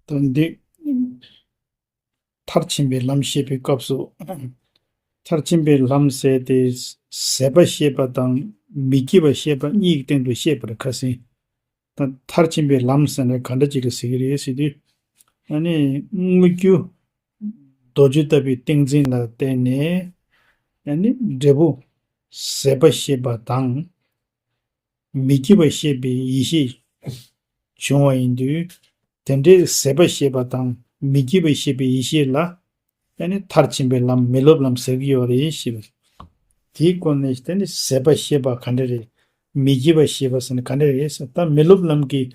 དོན་འདི་མཐར་ཕྱིན་པའི་ལམ་བཤད་པའི་སྐབས་སུ་མཐར་ཕྱིན་པའི་ལམ་ཟད་དེ་ཟད་པ་ཤེས་པ་དང་མི་སྐྱེ་བ་ཤེས་པ་གཉིས་སྟེང་དུ་བཤད་པར་ཁ་ཟིན། ད་མཐར་ཕྱིན་པའི་ལམ་ཟེར་ན་ག་འདྲ་ཅིག་རེད་ཟེར་གྱི་རེད་ཟེར་དུས། ཨ་ནི། དངོས་རྒྱུ། རྡོ་རྗེ་ལྟ་བུའི་ཏིང་འཛིན་ལ་བརྟེན་ནས། ཨ་ནི། འབྲས་བུ། ཟད་པ་ཤེས་པ་དང། མི་སྐྱེ་བ་ཤེས་པའི་ཡེ་ཤེས། བྱུང་བ་ཡིན་དུས། དེ་འདྲའི་ཟད་པ་ཤེས་པ་དང་མི་སྐྱེ་བ་ཤེས་པའི་ཡེ་ཤེས་ལ། དེ་ནི་མཐར་ཕྱིན་པའི་ལམ་མི་སློབ་ལམ་ཟེར་གྱི་ཡོད་རེད་ཞེས་པ་རེད། དེའི་སྐོར་ནས་དེ་ནི་ཟད་པ་ཤེས་པ་ག་འདྲ་རེད། མི་སྐྱེ་བ་ཤེས་པ་ཟེར་ནི་ག་འདྲ་རེད་ཟེར་ད་མི་སློབ་ལམ་གྱི།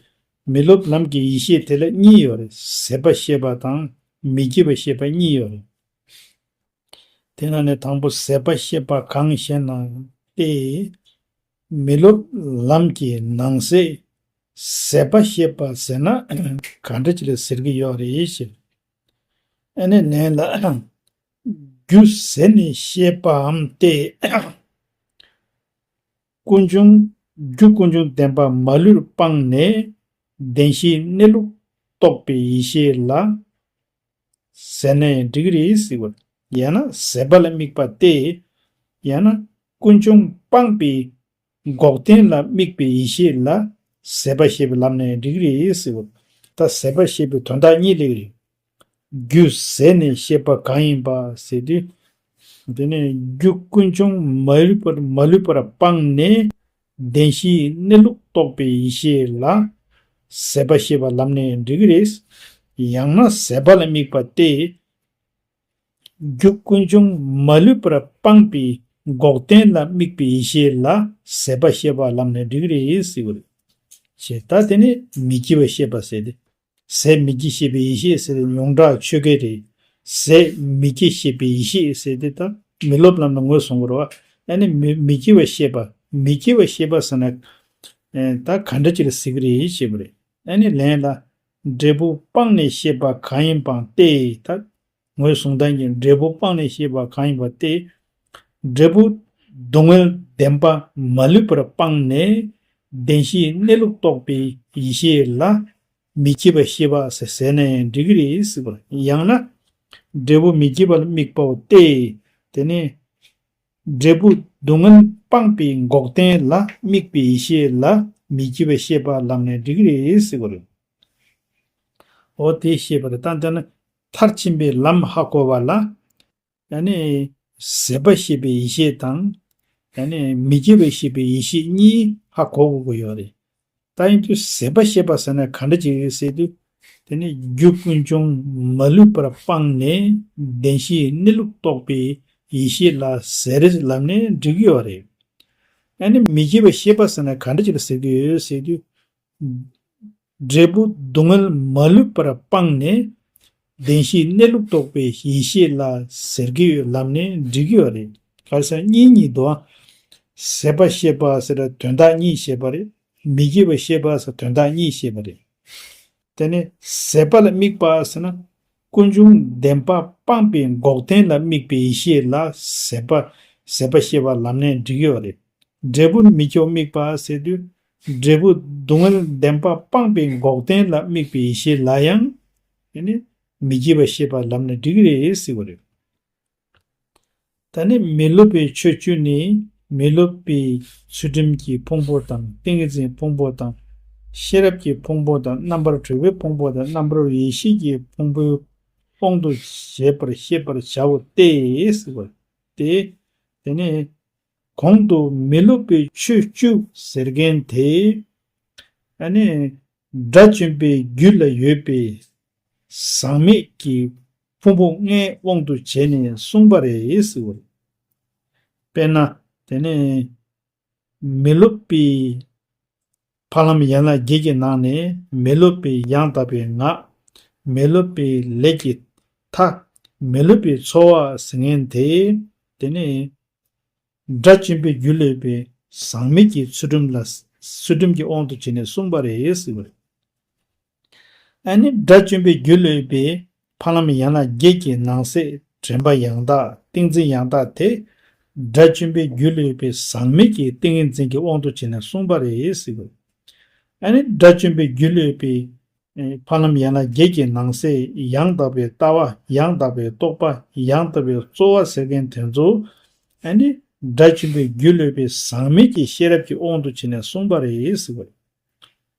མི་སློབ་ལམ་གྱི་ཡིད་ཤེས་དེ་ལ་གཉིས་ཡོད་རེད་ཟད་པ་ཤེས་པ་དང་མི་སྐྱེ་བ་ཤེས་པ་གཉིས་ཡོད་རེད། དེ་ན་ནི་དང་པོ་ཟད་པ་ཤེས་པ་གང་ཞེ་ན། ཏེ། མི་སློབ་ལམ་གྱི་ནང་གསེས་ཟད་པ་ཤེས་པ་ཟེར་ན་ག་འདྲ་ཅིག་རེད་ཟེར་གྱི་ཡོད་རེད་ཞེས་པ། ཨ་ནེ་ནས་ལ་རྒྱུ་ཟེར་ནས་བཤད་པའམ་སྟེ། ཀུན་འབྱུང་རྒྱུ་ཀུན་འབྱུང་བདེན་པ་མ་ལུས་སྤངས་ནས་བདེན་བཞིའི་གནས་ལུགས་རྟོགས་པའི་ཡེ་ཤེས་ལ་ཟེར་ནའི་འགྲིག་གི་རེད་ཟེར་བ་ཡང་ན་ཟད་པ་ལ་དམིགས་པ་སྟེ། ཡང་ན་ཀུན་འབྱུང་སྤངས་པའི་འགོག་བདེན་ལ་དམིགས་པའི་ཡེ་ཤེས་ལ། ཟད་པ་ཤེས་པའི་ལམ་ནི་རིགས་རེ་ཟེར། བདག་ཟད་པར་ཤེས་པའི་དོན་དག་གཉིས་ལེགས་རིག། རྒྱུ་ཟད་ནས་ཤེས་པ་གང་ཡིན་པ་ཟད་དུས། དེ་ནས་རྒྱུ་ཀུན་འབྱུང་མ་ལུས་པར་སྤངས་ནས། བདེན་བཞིའི་གནས་ལུགས་རྟོགས་པའི་ཡེ་ཤེས་ལ། ཟད་པ་ཤེས་པའི་ལམ་ནི་རིགས་རེ། ཡང་ན་ཟད་པ་ལ་དམིགས་པ་སྟེ། རྒྱུད་ཀུན་འབྱུང་མ་ལུས་པར་སྤངས་པའི་འགོག་བདེན་ལ་དམིགས་པའི་ཡེ་ཤེས་ལ་ཟད་པ་ཤེས་པ་ལམ་ནས་འགྲིག་རེ་ཟེར་བ་རེད། ཞེས་ད་དེ་ནི་མི་སྐྱེ་བ་ཤེས་པ་ཟད་དེ། ཟད་མི་སྐྱེ་ཤེས་པའི་ཡེ་ཤེས་ཟེར་ཏེ་ཡོངས་གྲགས་ཆོས་སྐད་རེད། ཟད་མི་སྐྱེ་ཤེས་པའི་ཡེ་ཤེས་ཟེར་ཏེ་ད་མི་སློབ་ལམ་ནས་ངོས་བཟུང་བར་བ། ཡང་ནི་མི་སྐྱེ་བ་ཤེས་པ་མི་སྐྱེ་བ་ཤེས་པ་ཟེར་ན། ད་ག་འདྲ་ཅིག་གཟིགས་རེ་བྱེད་པ་རེད། ཡང་ནི་ལན་ལ། འབྲས་བུ་སྤངས་ནས་ཤེས་པ་གང་ཡིན་པའང་སྟེ། དང། ངོས་བཟུང་དོན་གྱི་འབྲས་བུ་སྤངས་ནས་ཤེས་པ་གང་ཡིན་པ་སྟེ། འབྲས་བུ་སྡུག་བསྔལ་བདེན་པ་མ་ལུས་པར་སྤངས་ནས། བདེན་བཞིའི་གནས་ལུགས་རྟོགས་པའི་ཡེ་ཤེས་ལ། མི་སྐྱེ་བའི་ཤེས་པ་ཟེར་ནས་འགྲིག་གི་རེད་སྲིད། ཡང་ན། འབྲས་བུ་མི་སྐྱེ་བ་ལ་དམིགས་པའོ་སྟེ། དེ་ནི། འབྲས་བུ་སྡུག་བསྔལ་སྤངས་པའི་འགོག་བདེན་ལ་དམིགས་པའི་ཡེ་ཤེས་ལ་མི་སྐྱེ་བའི་ཤེས་པ་ལམ་ནས་འགྲིག་རེད་ཟེར་གོ་རེད། འོ་དེ་ཤེས་པར་བརྟག་ན་མཐར་ཕྱིན་པའི་ལམ་ཧ་གོ་བ་ལ། ཡང་ན་ཟད་པ་ཤེས་པའི་ཡེ་ཤེས་དང། ཡང་ན་མི་སྐྱེ་བའི་ཤེས་པའི་ཡེ་ཤེས་གཉིས་ཧ་གོ་དགོས་ཀྱི་ཡོད་རེད། ད་ཡིན་དུས་ཟད་པ་ཤེས་པ་ཟེར་ན་ག་འདྲ་ཅིག་རེད་ཟེར་དུས། དེ་ནི་རྒྱུ་ཀུན་འབྱུང་མ་ལུས་པར་སྤངས་ནས་བདེན་བཞིའི་གནས་ལུགས་རྟོགས་པའི་ཡེ་ཤེས་ལ་ཟད་རེད་ལབ་ནས་འགྲིག་གི་ཡོད་རེད། ཨ་ནི་མི་སྐྱེ་བའི་ཤེས་པ་ཟེར་ན་ག་འདྲ་ཅིག་རེད་ཟེར་གི་ཡོད་རེད་ཟེར་དུས། འབྲས་བུ་སྡུག་བསྔལ་མ་ལུས་པར་སྤངས་ནས་བདེན་བཞིའི་གནས་ལུགས་རྟོགས་པའི་ཡེ་ཤེས་ལ་ཟེར་གྱི་ཡོད་ལབ་ནས་འབྲི་གི་བ་རེད་ཁར་ས་གཉིས་གཉིས་དུ་ཨ། ཟད་པ་ཤེས་པ་ཟེར་ན་དོན་དག་གཉིས་ཤེས་པ་རེད་མི་སྐྱེ་བ་ཤེས་པ་ཟེར་ན་དོན་དག་གཉིས་ཤེས་པ་རེད། དེ་ནས་ཟད་པ་ལ་དམིགས་པ་ཟེར་ན་ཀུན་འབྱུང་བདེན་པ་སྤངས་པའི་འགོག་བདེན་ལ་དམིགས་པའི་ཡེ་ཤེས་ལ་ཟེར་བ་ཟད་པ་ཤེས་པ་ལབ་ནས་འབྲི་གི་བ་རེད། འབྲས་བུ་མི་སྐྱོ་དམིགས་པ་ཟེར་དུས་འབྲས་བུ་སྡུག་བསྔལ་བདེན་པ་སྤངས་པའི་འགོག་བདེན་ལ་དམིགས་པའི་ཡེ་ཤེས་ལ་ཡང་དེ་ནས་མི་བགྱིད་པ་ཤེས་པར་ལམ་ནི་འགྲིག་རེད་ཟེར་བ་རེད། ད་ནི་མི་སློབ་པའི་ཆོས་བཅུ་ནི་མི་སློབ་པའི་ཚུལ་ཁྲིམས་ཀྱི་ཕུང་པོ་དང་ཏིང་ངེ་འཛིན་ཕུང་པོ་དང། ཤེས་རབ་ཀྱི་ཕུང་པོ་དང་རྣམ་པར་གྲོལ་བའི་ཕུང་པོ་དང་རྣམ་པར་རོལ་བའི་ཡེ་ཤེས་ཀྱི་ཕུང་པོའི་དབང་དུ་བྱས་པར་ཤེས་པར་བྱའོ་སྟེ། ཟེར་བ་རེད། དེ་ནས། གོང་དུ་མི་སློབ་པའི་ཆོས་བཅུ་ཟེར་མཁན་དེ། ཨ་ནི། དགྲ་བཅོམ་པའི་རྒྱུད་ལ་ཡོད་པའི། ཟག་མེད་ཀྱི་ཕུང་པོ་ལྔའི་དབང་དུ་བྱས་ནས་གསུངས་པ་རེད་ཟེར་བ་རེད། དཔེར་ན། དེ་ནི། མི་སློབ་པའི། ཕ་ལམ་ཡན་ལག་བརྒྱད་ཀྱི་ནང་ནས་མི་སློབ་པའི་ཡང་དག་པའི་ངག། མི་སློབ་པའི་ལས་ཀྱི་མཐའ། མི་སློབ་པའི་ཚོར་བ་ཟིལ་ངན་དེ། དེ་ནས་སྒྲ་གཅན་པའི་རྒྱུད་ལས་པའི་ཟངས་མིག་གི་ཚུལ་ཁྲིམས་ལ། ཚུལ་ཁྲིམས་ཀྱི་དབང་དུ་བྱས་ནས་གསུངས་པ་རེད། ཨ་ནི་དགྲ་བཅོམ་པའི་རྒྱུ་ལས་པའི་ཕ་ལམ་ཡང་ན་བརྒྱད་ཀྱི་ནང་གསེས་དྲན་པ་ཡང་དག་ཏིང་འཛིན་ཡང་དག་དེ། དགྲ་བཅོམ་པའི་རྒྱུ་ལས་པའི་ཟག་མེད་ཀྱི་ཏིང་ངེ་འཛིན་གྱི་དབང་དུ་བྱས་ནས་གསུངས་པ་རེད། ཨ་ནི་དགྲ་བཅོམ་པའི་རྒྱུ་ལས་པའི་ཕ་ལམ་ཡང་ན་བརྒྱད་ཀྱི་ནང་གསེས་ཡང་དག་པའི་ལྟ་བ་ཡང་དག་པའི་རྟོགས་པ་ཡང་དག་པའི་རྩོལ་བ་ཟེར་མཁན་དེ་ཚོ། ཨ་ནི་དགྲ་བཅོམ་པའི་རྒྱུ་ལས་པའི་ཟག་མེད་ཀྱི་ཤེས་རབ་ཀྱི་དབང་དུ་བྱས་ནས་གསུངས་པ་རེད།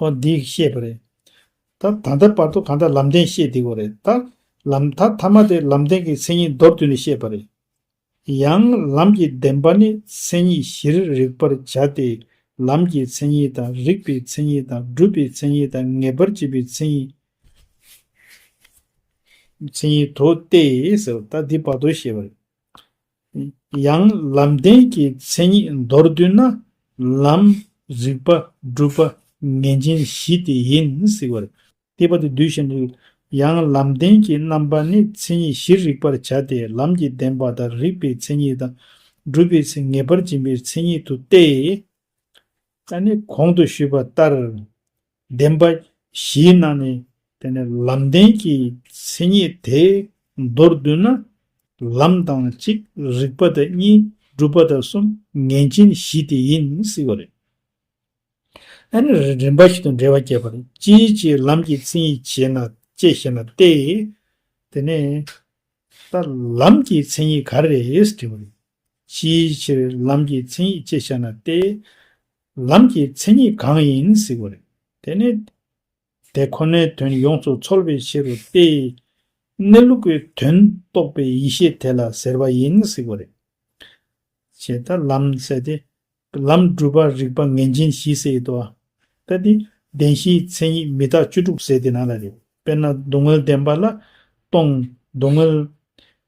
ཧོ། འདི་ཡིག་ཤེས་པ་རེད། ད་ད་ལྟའི་བར་དུ་གང་ལྟར་ལམ་བདེན་ཤེས་བསྡད་གོ་རེད་ད། ལམ་ད་ཐ་མ་དེ་ལམ་བདེན་གྱི་མཚན་ཉིད་མདོར་བསྡུས་ནས་ཤེས་པ་རེད། ཡང་ལམ་གྱི་བདེན་པ་ནི་མཚན་ཉིད་བཞིར་རིག་པར་བྱ་སྟེ། ལམ་གྱི་མཚན་ཉིད་དང་རིག་པའི་མཚན་ཉིད་དང་སྒྲུབ་པའི་མཚན་ཉིད་དང་ངེས་པར་འབྱེད་པའི་མཚན་ཉིད། མཚན་ཉིད་དོ་སྟེ། ད་འདི་བར་དོ་ཤེས་པ་རེད། ཡང་ལམ་བདེན་གྱི་མཚན་ཉིད་མདོར་བསྡུས་ན། ལམ། རིག་པ། སྒྲུབ་པ། ངེས་འབྱིན་བཞི་སྟེ་ཡིན་སྲིད་པར་སྟེ་པ་དེ་འདུས་བཞིན་དུ། ཡང་ལམ་བདེན་གྱི་རྣམ་པ་ནི་མཚན་ཉིད་བཞིར་རིག་པར་བྱ་སྟེ་ལམ་གྱི་བདེན་པ་དང་རིག་པའི་མཚན་ཉིད་དང། སྒྲུབ་པའི་ཚེ་ངེས་པར་འབྱིན་པའི་མཚན་ཉིད་དུ་སྟེ། ད་ནི་གོང་དུ་ཞུས་པ་ལྟར་བདེན་པ་བཞིའི་ནང་ནས་དེ་ནི་ལམ་བདེན་གྱི་མཚན་ཉིད་དེ་མདོར་བསྡུ་ན། ལམ་དང་གཅིག་རིག་པ་དང་གཉིས་སྒྲུབ་པ་དང་གསུམ་ངེས་འབྱིན་བཞི་དེ་ཡིན་སྲིད་པ་རེད། ད་ནི་རིམ་པ་བཞི་དང་འབྲེལ་བ་བསྐྱེད་པར་ཅིའི་ཕྱིར་ལམ་གྱི་མཚན་ཉིད་བྱེད་ན་ཅེས་ཞེ་ན་སྟེ། དེ་ནས། ད་ལམ་གྱི་མཚན་ཉིད་ག་རེ་རེད་ཅེས་དྲིས་པ་རེད། ཅིའི་ཕྱིར་ལམ་གྱི་མཚན་ཉིད་ཅེས་བྱ་ན་སྟེ། ལམ་གྱི་མཚན་ཉིད་གང་ཡིན་གཟིགས་པ་རེད། དེ་ནི། དེ་ཁོ་ནའི་དོན་ཡོངས་སུ་ཚོལ་བའི་ཕྱིར་རོ་སྟེ། གནས་ལུགས་ཀྱི་དོན་རྟོགས་པའི་ཡེ་ཤེས་དེ་ལ་ཟེར་བ་ཡིན་གཟིགས་པ་རེད། ཞེས་ད་ལམ་བསལ་ཏེ། ལམ་བསྒྲུབ་པ་རིགས་པ་ངེས་འབྱིན་བཞི་བསལ་ཡོད་དོ། ལྟ་དེ། བདེན་བཞིའི་མཚན་ཉིད་མི་རྟག་བཅུ་དྲུག་བསལ་ཏེ་ན་ལ་རེ། དཔེར་ན་སྡུག་བསྔལ་བདེན་པ་ལ། སྟོང། སྡུག་བསྔལ།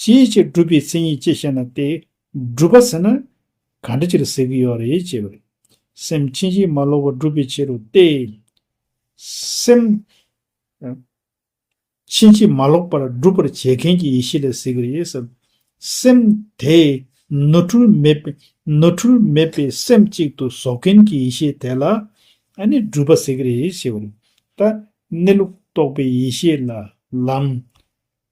ཅིའི་ཕྱིར་སྒྲུབ་པའི་མཚན་ཉིད་ཅེས་བཤད་ན་སྟེ། སྒྲུབ་པ་ཟེར་ན། ག་འདྲི་ཕྱིར་ཟེར་གི་ཡོད་རེད་ཅེས་པར། སེམས་ཕྱིན་ཅི་མ་ལོག་པར་སྒྲུབ་པའི་ཕྱིར་རོ་སྟེ། སེམས། ཕྱིན་ཅི་མ་ལོག་པར་སྒྲུབ་པར་བྱེད་མཁན་གྱི་ཡེ་ཤེས་ལ་ཟེར་གི་རེད། སེམས། དེ། ནོར་འཁྲུལ་མེད་པའི། ནོར་འཁྲུལ་མེད་པའི་སེམས་གཅིག་ཏུ་བཟོ་མཁན་གྱི་ཡེ་ཤེས་དེ་ལ། ནི་སྒྲུབ་པ་ཟེར་གི་རེད་ཞེས་པར། ལྟ། གནས་ལུགས་རྟོགས་པའི་ཡེ་ཤེས་ལ། ལམ།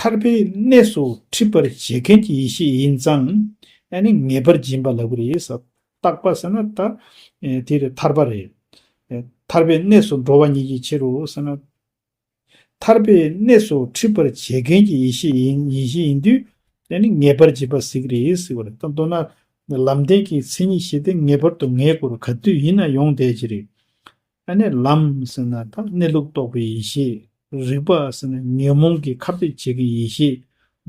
ཐར་པའི་གནས་སུ་འཁྲིད་པར་བྱེད་མཁན་གྱི་ཡེ་ཤེས་ཡིན་ཙང། ཨ་ནི་ངེས་པར་སྦྱིན་པ་ལ་གུ་རེ་ཡིས་བཏགས་པ་ཟེར་ན་ད་དེ་རེ་ཐར་པ་རེད། ཐར་པའི་གནས་སུ་འགྲོ་བ་ཉིད་ཀྱི་ཕྱིར་རོ་ཟེར་ན། ཐར་པའི་གནས་སུ་འཁྲིད་པར་བྱེད་མཁན་གྱི་ཡེ་ཤེས་ཡིན་བཞིན་ཡིན་དུས། ཨ་ནི་ངེས་པར་སྦྱིན་པ་གཟིགས་རེ་ཡིས་གཟིགས་པ་རེད། མདོར་ན། ལམ་བདེན་གྱི་མཚན་ཉིད་བཞི་སྟེ་ངེས་པར་དུ་ངེས་དགོས་རུང་ག་དུས་ཡིན་ན་ཡོང་བསྡད་ཀྱི་རེད། ཨ་ནེ་ལམ་ཟེར་ན་ད་གནས་ལུགས་རྟོགས་པའི་ཡེ་ཤེས། རིག་པ་ཟེར་ན་ཉོན་མོངས་ཀྱི་ཁ་བརྡས་བྱེད་མཁན་ཡེ་ཤེས།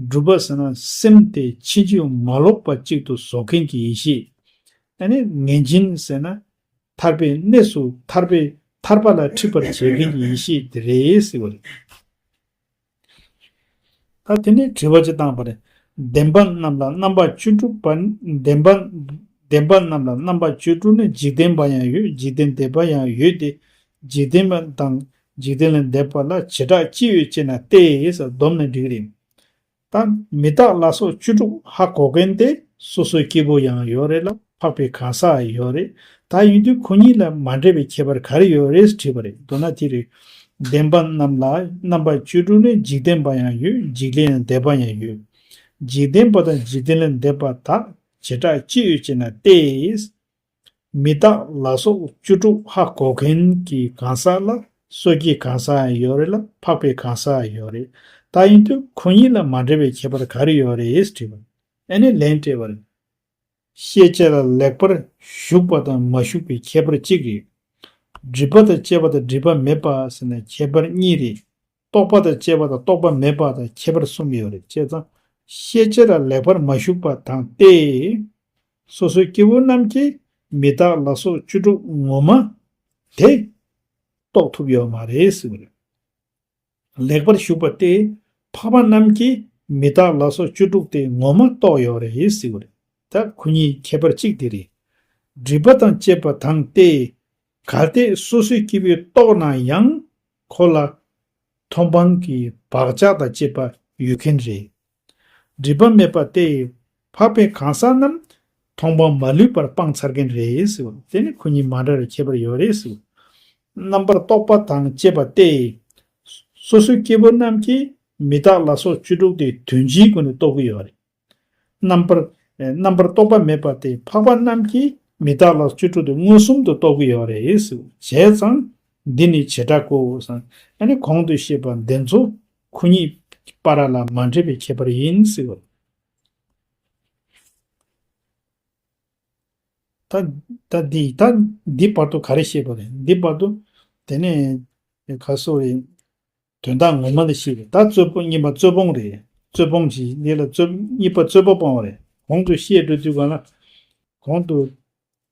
སྒྲུབ་པ་ཟེར་ན་སེམས་དེ་ཕྱིན་ཅི་མ་ལོག་པ་གཅིག་ཏུ་བཟོ་མཁན་གྱི་ཡེ་ཤེས། ཨ་ནེ་ངན་སྦྱིན་ཟེར་ན། ཐར་པའི་གནས་སུ་ཐར་པའི་ཐར་པ་ལ་འཁྲིད་པར་བྱེད་མཁན་གྱི་ཡེ་ཤེས་དེ་རེད་ཟེར་བ་རེད། ད་དེ་ནས་དྲི་བ་ཅི་བཏང་བ་རེད། བདེན་པ་རྣམས་ལ་རྣམ་པ་བཅུ་དྲུག་པ། བདེན་པ་རྣམས་ལ་རྣམ་པ་བཅུ་དྲུག་ནི་འཇིག་རྟེན་པ་ཡང་ཡོད་འཇིག་རྟེན་འདས་པ་ཡང་ཡོད་དེ། འཇིག་རྟེན་པ་དང་འཇིག་རྟེན་ལས་འདས་པ་ལ་བྱེ་བྲག་ཅི་ཡོད་ཅེ་ན་ཏེ་ཡེས་བསྡོམས་ནས་འགྲིག་རེད། ད་མི་རྟག་ལ་སོགས་བཅུ་དྲུག་ཧ་གོ་མཁན་དེ་སོ་སོའི་སྐྱེ་བོ་ཡང་ཡོད་རེད་ལ། འཕགས་པའི་གང་ཟག་ཡོད་རེད། ད་ཡིན་དུས་ཁོ་གཉིས་ལ་མ་འདྲེས་པའི་ཁྱད་པར་ག་རེ་ཡོད་རེད་དྲིས་པ་རེད་མདོར་ན་དེ་རེད། བདེན་པ་རྣམས་ལ་རྣམ་པ་བཅུ་དྲུག་ནི་འཇིག་རྟེན་པ་ཡང་ཡོད་འཇིག་རྟེན་ལས་འདས་པ་ཡང་ཡོད། འཇིག་རྟེན་པ་དང་འཇིག་རྟེན་ལས་འདས་པ་དག་བྱེ་བྲག་ཅི་ཡོད་ཅེ་ན་སྟེ། མི་རྟག་ལ་སོགས་བཅུ་དྲུག་ཧ་གོ་མཁན་གྱི་གང་ཟག་ལ་སོ་སྐྱེའི་གང་ཟག་ཡང་ཡོད་རེད་ལ་འཕགས་པའི་གང་ཟག་ཡོད་རེད། ད་ཡིན་དུས་ཁོ་གཉིས་ལ་མ་འདྲེས་པའི་ཁྱད་པར་ག་རེ་ཡོད་རེད་དྲིས་པར་ཨེ་ནས་ལན་སྤྲད་པ་རེད། ཤེས་བྱ་ལ་ལེགས་པར་ཞུགས་པ་དང་མ་ཞུགས་པའི་ཁྱད་པར་གཅིག་རེད། སྒྲིབ་པ་དང་བཅས་པ་དང་སྒྲིབ་པ་མེད་པ་ཟེར་ན་ཁྱད་པར་གཉིས་རེད། རྟོགས་པ་དང་བཅས་པ་དང་རྟོགས་པ་མེད་པ་དང་ཁྱད་པར་གསུམ་ཡོད་རེད་བྱས་ཙང། ཤེས་བྱ་ལ་ལེགས་པར་མ་ཞུགས་པ་དང་སྟེ། སོ་སོའི་སྐྱེ་བོ་རྣམས་ཀྱིས་མི་རྟག་ལ་སོགས་བཅུ་དྲུག་ངོ་མ་དེ། རྟོགས་ཐུབ་ཡོད་མ་རེད་ཟེར་བ་རེད། ལེགས་པར་བཞུགས་པ་སྟེ། འཕགས་པ་རྣམས་ཀྱིས་མི་རྟག་ལ་སོགས་བཅུ་དྲུག་སྟེ་ངོ་མ་རྟོགས་ཡོད་རེད་ཟེར་བ་རེད། ད་གུ་གཉིས་ཁྱད་པར་གཅིག་དེ་རེད། སྒྲིབ་པ་དང་བཅས་པ་དང་སྟེ། གལ་ཏེ་སོ་སོའི་སྐྱེ་བོས་རྟོགས་ན་ཡང། ཁོ་ལ། མཐོང་སྤང་གི་བག་ཆགས་དང་བཅས་པ་ཡོད་མཁན་རེད། སྒྲིབ་པ་མེད་པ་སྟེ། འཕགས་པའི་གང་ཟག་རྣམས། མཐོང་སྤང་མ་ལུས་པར་སྤང་ཚར་མཁན་རེད། དེ་ནི་ཁོ་གཉིས་མ་འདྲ་བའི་ཁྱད་པར་ཡོད་རེད། རྣམ་པར་རྟོག་པ་དང་བཅས་པ་སྟེ། སོ་སོའི་སྐྱེ་བོ་རྣམས་ཀྱིས་མི་རྟག་ལ་སོགས་བཅུ་དྲུག་སྟེ་དོན་སྤྱིའི་སྒོ་ནས་རྟོགས་ཀྱི་ཡོད་རེད། རྣམ་པར། རྣམ་པར་རྟོག་པ་མེད་པ་སྟེ་འཕགས་པ་རྣམས་ཀྱིས་མི་རྟག་ལ་བཅུ་དྲུག་སྟེ་མངོན་སུམ་དུ་རྟོགས་ཀྱི་ཡོད་རེད། བྱས་ཙང། འདི་ནི་བྱེ་བྲག་གོ། ཨ་ནི་གོང་དུ་བཤད་པ་འདི་ཚོ་ཁོ་གཉིས་པ་ར་ལ་མ་འདྲེས་པའི་ཁྱད་པར་ཡིན་སྲིད་པ། ད་འདི་ད་འདི་བར་དུ་ག་རེ་ཤེས་པ་རེད་འདི་བར་དུ། དེ་ནས་ག་སོགས་རེད། དོན་དག་ངོ་མ་ལ་ཤེས་རེད་ད་རྩོད་པོ་གཉིས་པ་རྩོད་སྤོང་རེད་རྩོད་སྤོང་གྱི་འདི་ལ་རྩོད་གཉིས་པ་རྩོད་པོ་སྤོང་བ་རེད་གོང་དུ་བཤད་འགྲོ་དུས་གང་ལ། གོང་དུ།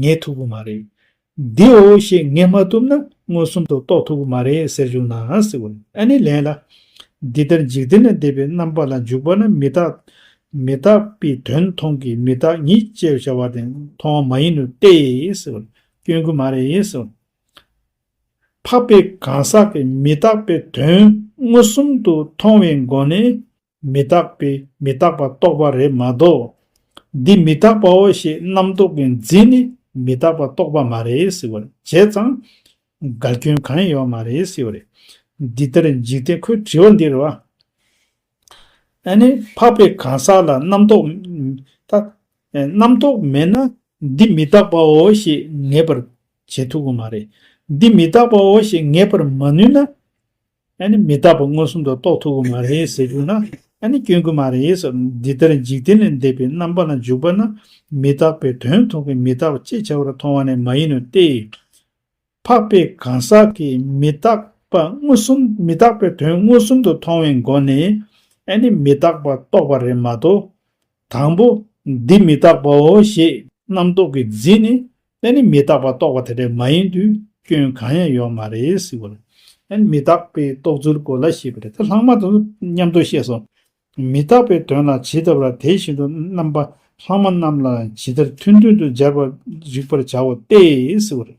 ངས་ཐུབ་ཀྱི་མ་རེད། འདིའོ་ཞེས་ངས་མ་བཏུབ་ན་མངོན་སུམ་དུ་རྟོགས་ཐུབ་ཀྱི་མ་རེད་ཟེར་བྱུང་ནའང་སྲིད། ཨ་ནི་ལན་ལ། འདི་ལྟར་འཇིག་རྟེན་ན་བདེ་བའི་རྣམ་པ་ལ་འཇུག་པ་ན་མི་རྟག། མི་རྟག་པའི་དོན་མཐོང་གི་མི་རྟག་ཉིད་ཅེས་བྱ་བ་དེ་མཐོང་བ་མ་ཡིན་ནོ་སྟེ། སྐྱོན་གྱི་མ་རེད། འཕགས་པའི་གང་ཟག་གིས་མི་རྟག་པའི་དོན་མངོན་སུམ་དུ་མཐོང་བའི་སྒོ་ནས། མི་རྟག་པས་མི་རྟག་པ་རྟོགས་པ་རེད་མ་གཏོགས། འདི་མི་རྟག་པའོ་ཞེས་རྣམ་རྟོག་གི་འཛིན་ནི་མི་རྟག་པ་རྟོགས་པ་མ་རེད་ཟེར་བར་བྱས་ཙང། དགའ་སྐྱོན་གང་ཡང་ཡོད་མ་རེད་ཟེར་བ་རེད། འདི་ལྟར་འཇིག་རྟེན་ཁོའི་དྲི་བ་འདིར། ཨ་ནི་འཕགས་པའི་གང་ཟག་ལ་རྣམ་རྟོག། རྣམ་རྟོག་མེད་ན་འདི་མི་རྟག་པའོ་ཞེས་ངེས་པར་བྱེད་ཐུབ་པ་མ་རེད། འདི་མི་རྟག་པའོ་ཞེས་ངེས་པར་མ་ནུས་ན། ཨ་ནི་མི་རྟག་པ་མངོན་སུམ་དུ་རྟོགས་ཐུབ་ཀྱི་མ་རེད་ཟེར་རྒྱུ་ན་ཨ་ནི་སྐྱོན་གྱི་མ་རེད་ཟེར། འདི་ལྟར་འཇིག་རྟེན་ལས་འདས་པའི་རྣམ་པ་ལ་འཇུག་པ་ན་མི་རྟག་པའི་དོན་མཐོང་གི་མི་རྟག་པ་ཅེས་བྱ་བར་མཐོང་བ་ནི་མ་ཡིན་ནོ་སྟེ། འཕགས་པའི་གང་ཟག་གིས་མི་རྟག་པ་མངོན་སུམ་མི་རྟག་པའི་དོན་མངོན་སུམ་དུ་མཐོང་བའི་སྒོ་ནས་ཨ་ནི་མི་རྟག་པ་རྟོགས་པ་རེད་མ་གཏོགས། དང་པོ། འདི་མི་རྟག་པའོ་ཞེས་རྣམ་རྟོག་གིས་འཛིན་ནས་ཨེ་ནི་མི་རྟག་པ་རྟོགས་པ་དེ་འདྲ་མ་ཡིན་དུས་སྐྱོན་གང་ཡང་ཡོད་མ་རེད་ཟེར་བ་ལ། ཨེ་ནི་མི་རྟག་པའི་རྟོགས་ཚུལ་གོ་ལ་ཞེས་པ་རེད་དེ་ལྷག་མ་དང་མཉམ་དུ་བཤད་སོང། མི་རྟག་པའི་དོན་ལ་ཇི་ལྟ་བུ་ལ་དེ་བཞིན་དུ་རྣམ་པ་ལྷག་མ་རྣམས་ལའང་ཇི་ལྟར་མཐུན་མཐུན་དུ་སྦྱར་བར་རིག་པར་བྱའོ་སྟེ་ཟེར་བ་རེད།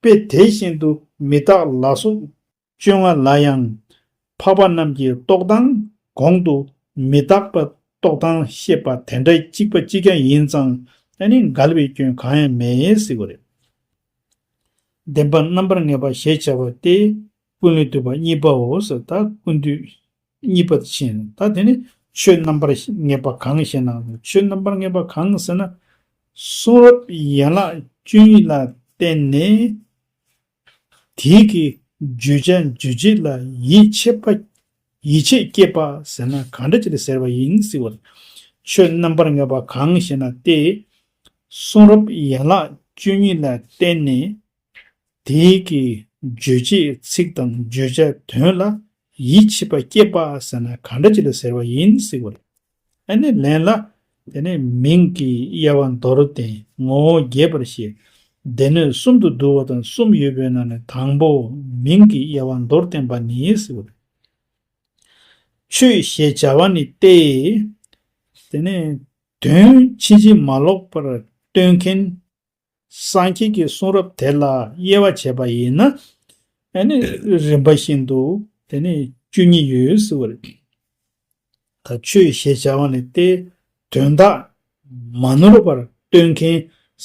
དཔེ་དེ་བཞིན་དུ་མི་རྟག་ལ་སོགས་བཅོ་ལྔ་ལ་ཡང། འཕགས་པ་རྣམས་ཀྱི་རྟོག་དང་གོང་དུ་མི་རྟག་པ་རྟོག་དང་བཤད་པ་དེ་འདྲ་གཅིག་པ་གཅིག་ཀྱང་ཡིན་ཙང་ཨ་ནི་འགལ་བའི་སྐྱོན་གང་ཡང་མེད་སྲིད་པ་རེད། བདེན་པ་རྣམ་པར་ངེས་པ་ཞེས་བྱ་བ་སྟེ། ཀུན་ལས་བཏུས་པ་གཉིས་པའོ་ཟེར་ད་ཀུན་བཏུས་གཉིས་པ་དེ་ཕྱིན་ད་དེ་ནི་ཆོས་རྣམ་པར་ངེས་པ་གང་ཞེ་ན་ཆོས་རྣམ་པར་ངེས་པ་གང་ཟེར་ན། གསུང་རབ་ཡན་ལག་བཅུ་གཉིས་ལ་བརྟེན་ནས་དེའི་གི་བརྗོད་བྱ་རྗོད་བྱེད་ལ་ཡིད་ཆེས་པ་ཡིད་ཆེས་བསྐྱེད་པ་ཟེར་ན་གང་འདྲ་ཅིག་ཟེར་བ་ཡིན་སྲིད་བར། ཆོས་རྣམ་པར་ངེས་པ་གང་ཞེ་ན་སྟེ། གསུང་རབ་ཡན་ལག་བཅུ་གཉིས་ལ་བརྟེན་ནས་དེ་ཀའི་རྗོད་བྱེད་ཚིག་དང་བརྗོད་བྱ་དོན་ལ་ཡིད་ཆེས་པ་སྐྱེས་པ་ཟེར་ན་གང་འདྲ་ཅི་ལ་ཟེར་བ་ཡིན་ཟེར་བ་རེད། ཨ་ནི་ལན་ལ། དེ་ནི་མིང་གི་དབྱེ་བ་མདོར་བསྟན་ངོ་བོ་རྒྱས་པར་བཤད། སྡེ་སྣོད་གསུམ་དུ་བསྡུ་བ་དང་གསུམ་ཡོད་པའི་ནང་ནས་དང་པོ་མིང་གི་དབྱེ་བ་མདོར་བསྟན་པ་ནི་ཟེར་བ་རེད། ཆོས་ཞེས་བྱ་བ་ནི་སྟེ། དེ་ནི་དོན་ཕྱིན་ཅི་མ་ལོག་པར་སྟོན་མཁན། སངས་རྒྱས་ཀྱི་གསུང་རབ་དེ་ལ་དབྱེ་བ་བྱས་པ་ཡིན་ན། རིམ་པ་བཞིན་དུ་དེ་ནི་བཅུ་གཉིས་ཡོད་ཟེར་བ་རེད། ད་ཆོས་ཞེས་བྱ་བ་ནི་དེའི་དོན་དག་མ་ནོར་བར་སྟོན་མཁན་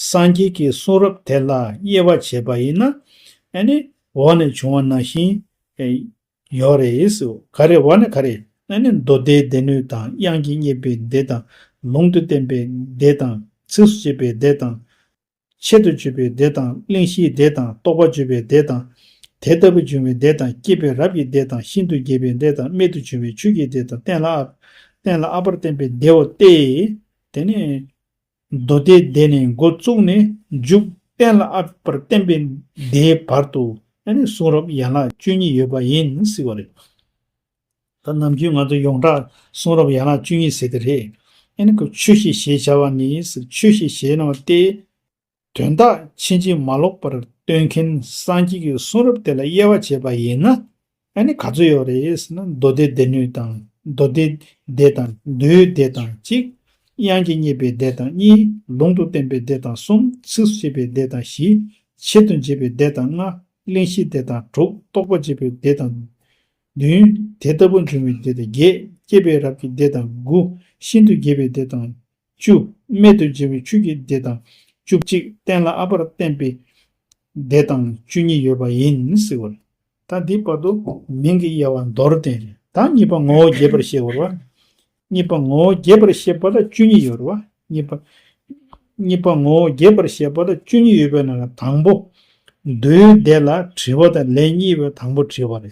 སངས་རྒྱས་ཀྱི་གསུང་རབ་དེ་ལ་དབྱེ་བ་བྱས་པ་ཡིན་ན། འོག་ནས་འབྱུང་བ་ནང་བཞིན། ཡོད་རེད་ཡིས་སུ་ག་རེ་བ་ནི་ག་རེ། ཨ་ནི་མདོ་སྡེའི་སྡེ་སྣོད་དང་དབྱངས་ཀྱིས་བསྙད་པའི་སྡེ་དང། ལུང་དུ་བསྟན་པའི་སྡེ་དང། ཚིགས་སུ་བཅད་པའི་སྡེ་དང། ཆེད་དུ་བརྗོད་པའི་སྡེ་དང་གླེང་གཞིའི་སྡེ་དང་རྟོགས་པ་བརྗོད་པའི་སྡེ་དང། དེ་ལྟ་བུ་འབྱུང་བའི་སྡེ་དང་སྐྱེས་པའི་རབས་ཀྱི་སྡེ་དང་ཤིན་ཏུ་རྒྱས་པའི་སྡེ་དང་རྨད་དུ་བྱུང་བའི་ཆོས་ཀྱི་སྡེ་དང་གཏན་ལ་ཨ། གཏན་ལ་ཨ་བར་བསྟན་པའི་སྡེའོ་སྟེ། དེ་ནི། མདོ་སྡེ་བཟླས་ནས་མགོ་བཙུགས་ནས་མཇུག་གཏན་ལ་ཨཱརྃ་པར་བརྟན་པའི་བརྡའི་བར་དུ་གསུང་རབ་ཡན་ལག་བཅུ་གཉིས་ཡོད་པ་ཡིན་ཟེར་བ་རེད། ད་ནམ་རྒྱུན་ང་ཚོ་ཡོངས་གྲགས་གསུང་རབ་ཡན་ལག་བཅུ་གཉིས་ཟེར་དེ་རེད། ཆོས་ཤེས་ཞེས་བྱ་བ་ནི་ཆོས་ཤེས་ཞེས་ན་བ་སྟེ། དོན་དག་ཕྱིན་ཅི་མ་ལོག་པར་སྟོན་མཁན་སངས་རྒྱས་ཀྱི་གསུང་རབ་དེ་ལ་དབྱེ་བ་འབྱེད་པ་ཡིན་ན་ཨ་ནི་ག་ཚོད་ཡོད་རེད་ཟེར་ན་མདོ་སྡེ་སྡེ་སྣོད་དང་མདོ་སྡེ་སྡེ་དང་མདོའི་སྡེ་དང་གཅིག། དབྱངས་ཀྱི་རྙེད་པའི་སྡེ་དང་གཉིས། ལུང་དུ་བསྟན་པའི་སྡེ་དང་གསུམ། ཚིགས་སུ་བཅད་པའི་སྡེ་དང་བཞི། ཆེད་དུ་འབྱེད་པའི་སྡེ་དང་ལྔ། གླེང་གཞིའི་སྡེ་དང་དྲུག་རྟོགས་པ་འབྱེད་པའི་སྡེ་དང། བདུན། དེ་ལྟ་བུ་འབྱུང་བའི་སྡེ་དང་བརྒྱད། སྐྱེས་པའི་རབས་ཀྱི་སྡེ་དང་དགུ། ཤིན་ཏུ་རྒྱས་པའི་སྡེ་དང། བཅུ། རྨད་དུ་བྱས་པའི་ཆོས་ཀྱི་སྡེ་དང། བཅུ་གཅིག་གཏན་ལ་ཨ་བར་བསྟན་པའི་སྡེ་དང་བཅུ་གཉིས་ཡོད་པ་ཡིན་སྲིད་བར། ད་འདིའི་བར་དུ་མིང་གི་དབྱེ་བ་མདོར་བསྟན་རེ་དང་གཉིས་པ་ངོ་བོ་རྒྱས་པར་བཤད་བར་བ། གཉིས་པ་ངོ་བོ་རྒྱས་པར་བཤད་པ་ལ་བཅུ་གཉིས་ཡོད་བར་བ། གཉིས་པ། གཉིས་པ་ངོ་བོ་རྒྱས་པར་བཤད་པ་ལ་བཅུ་གཉིས་ཡོད་པའི་ནང་ལ་དང་པོ། མདོའི་སྡེ་ལ་དྲི་བ་དང་ལན་གཉིས་པའི་དང་པོ་དྲི་བ་རེ་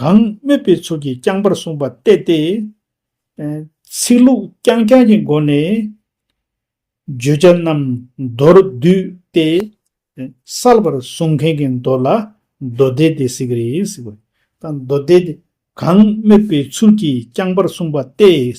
གང་སྨོས་པའི་ཚུལ་གྱིས་རྐྱང་པར་གསུངས་པ་གཏད་དེ། ཚིག་ལྷུག་རྐྱང་རྐྱང་གི་སྒོ་ནས། བརྗོད་བྱ་རྣམས་མདོར་བསྡུས་ཏེ། གསལ་བར་གསུང་མཁན་གྱི་མདོ་ལ་མདོ་སྡེ་སྟེ་ཟེར་གྱི་རེད། མདོ་སྡེ། གང་སྨོས་པའི་ཚུལ་གྱིས་རྐྱང་པར་གསུངས་པ་གཏད།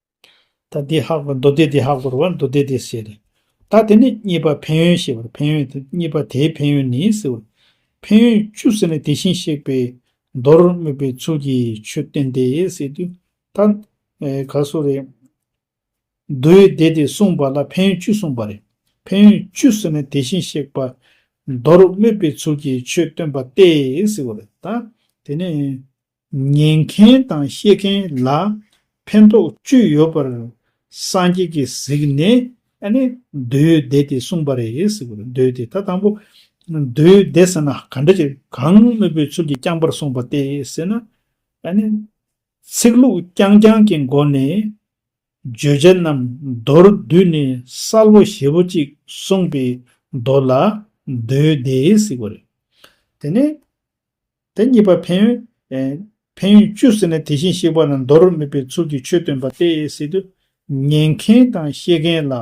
ད་དེ་ཧ་གོ་མདོ་སྡེ་དེ་ཧ་གོ་རུ་བ་མདོ་སྡེ་དེ་ཟེར། རེད་ད་དེ་ནི་གཉིས་པ་ཕན་ཡོན་ཞེས་པར་ཕན་ཡོན་དེ་གཉིས་པ་དེའི་ཕན་ཡོན་ནི་ཟེར་བ། ཕན་ཡོན་བཅུ་ཟེར་ནས་དེ་བཞིན་གཤེགས་པས་མདོར་སྨོས་པའི་ཚུལ་གྱིས་ཆོས་བསྟན་ཏེ་ཟེར་དུས། ད་ག་སོ་རེད། མདོའི་སྡེ་དེ་གསུངས་པ་ལ་ཕན་ཡོན་བཅུ་གསུངས་པ་རེད། ཕན་ཡོན་བཅུ་ཟེར་ནས་དེ་བཞིན་གཤེགས་པ། མདོར་སྨོས་པའི་ཚུལ་གྱིས་ཆོས་སྟོན་པ་སྟེ་ཟེར་བ་རེད་ད། དེ་ནི། ཉན་མཁན་དང་ཤེས་མཁན་ལ་ཕན་ཐོགས་བཅུ་ཡོད་པར་སངས་རྒྱས་ཀྱིས་གཟིགས་ནས་མདོའི་སྡེ་དེ་གསུངས་པ་རེད། མདོའི་སྡེ་ད་དང་པོ་མདོའི་སྡེ་ཟེར་ན་ག་འདྲ་ཅིག་གང་དངོས་པོའི་ཚུལ་གྱིས་རྐྱང་པར་གསུངས་པ་སྟེ་ཟེར་ན། ཚིག་ལྷུག་རྐྱང་རྐྱང་གི་སྒོ་ནས་བརྗོད་བྱ་རྣམས་མདོར་བསྡུས་ནས་གསལ་བོ་ཞེ་བོ་ཅིག་གསུངས་པའི་མདོ་ལ་མདོའི་སྡེ་ཟེར་བ་རེད། དེ་ནས། དེ་གཉིས་པ་ཕན་ཡོན། ཕན་ཡོན་བཅུ་ཟེར་ནས་དེ་བཞིན་གཤེགས་པ་ལ་འདོར་རོ་སྨྲས་པའི་ཚུལ་གྱིས་ཆོས་སྟོན་པ་སྟེ་སྲིད་དུ་ཉན་མཁན་དང་ཤེས་མཁན་ལ་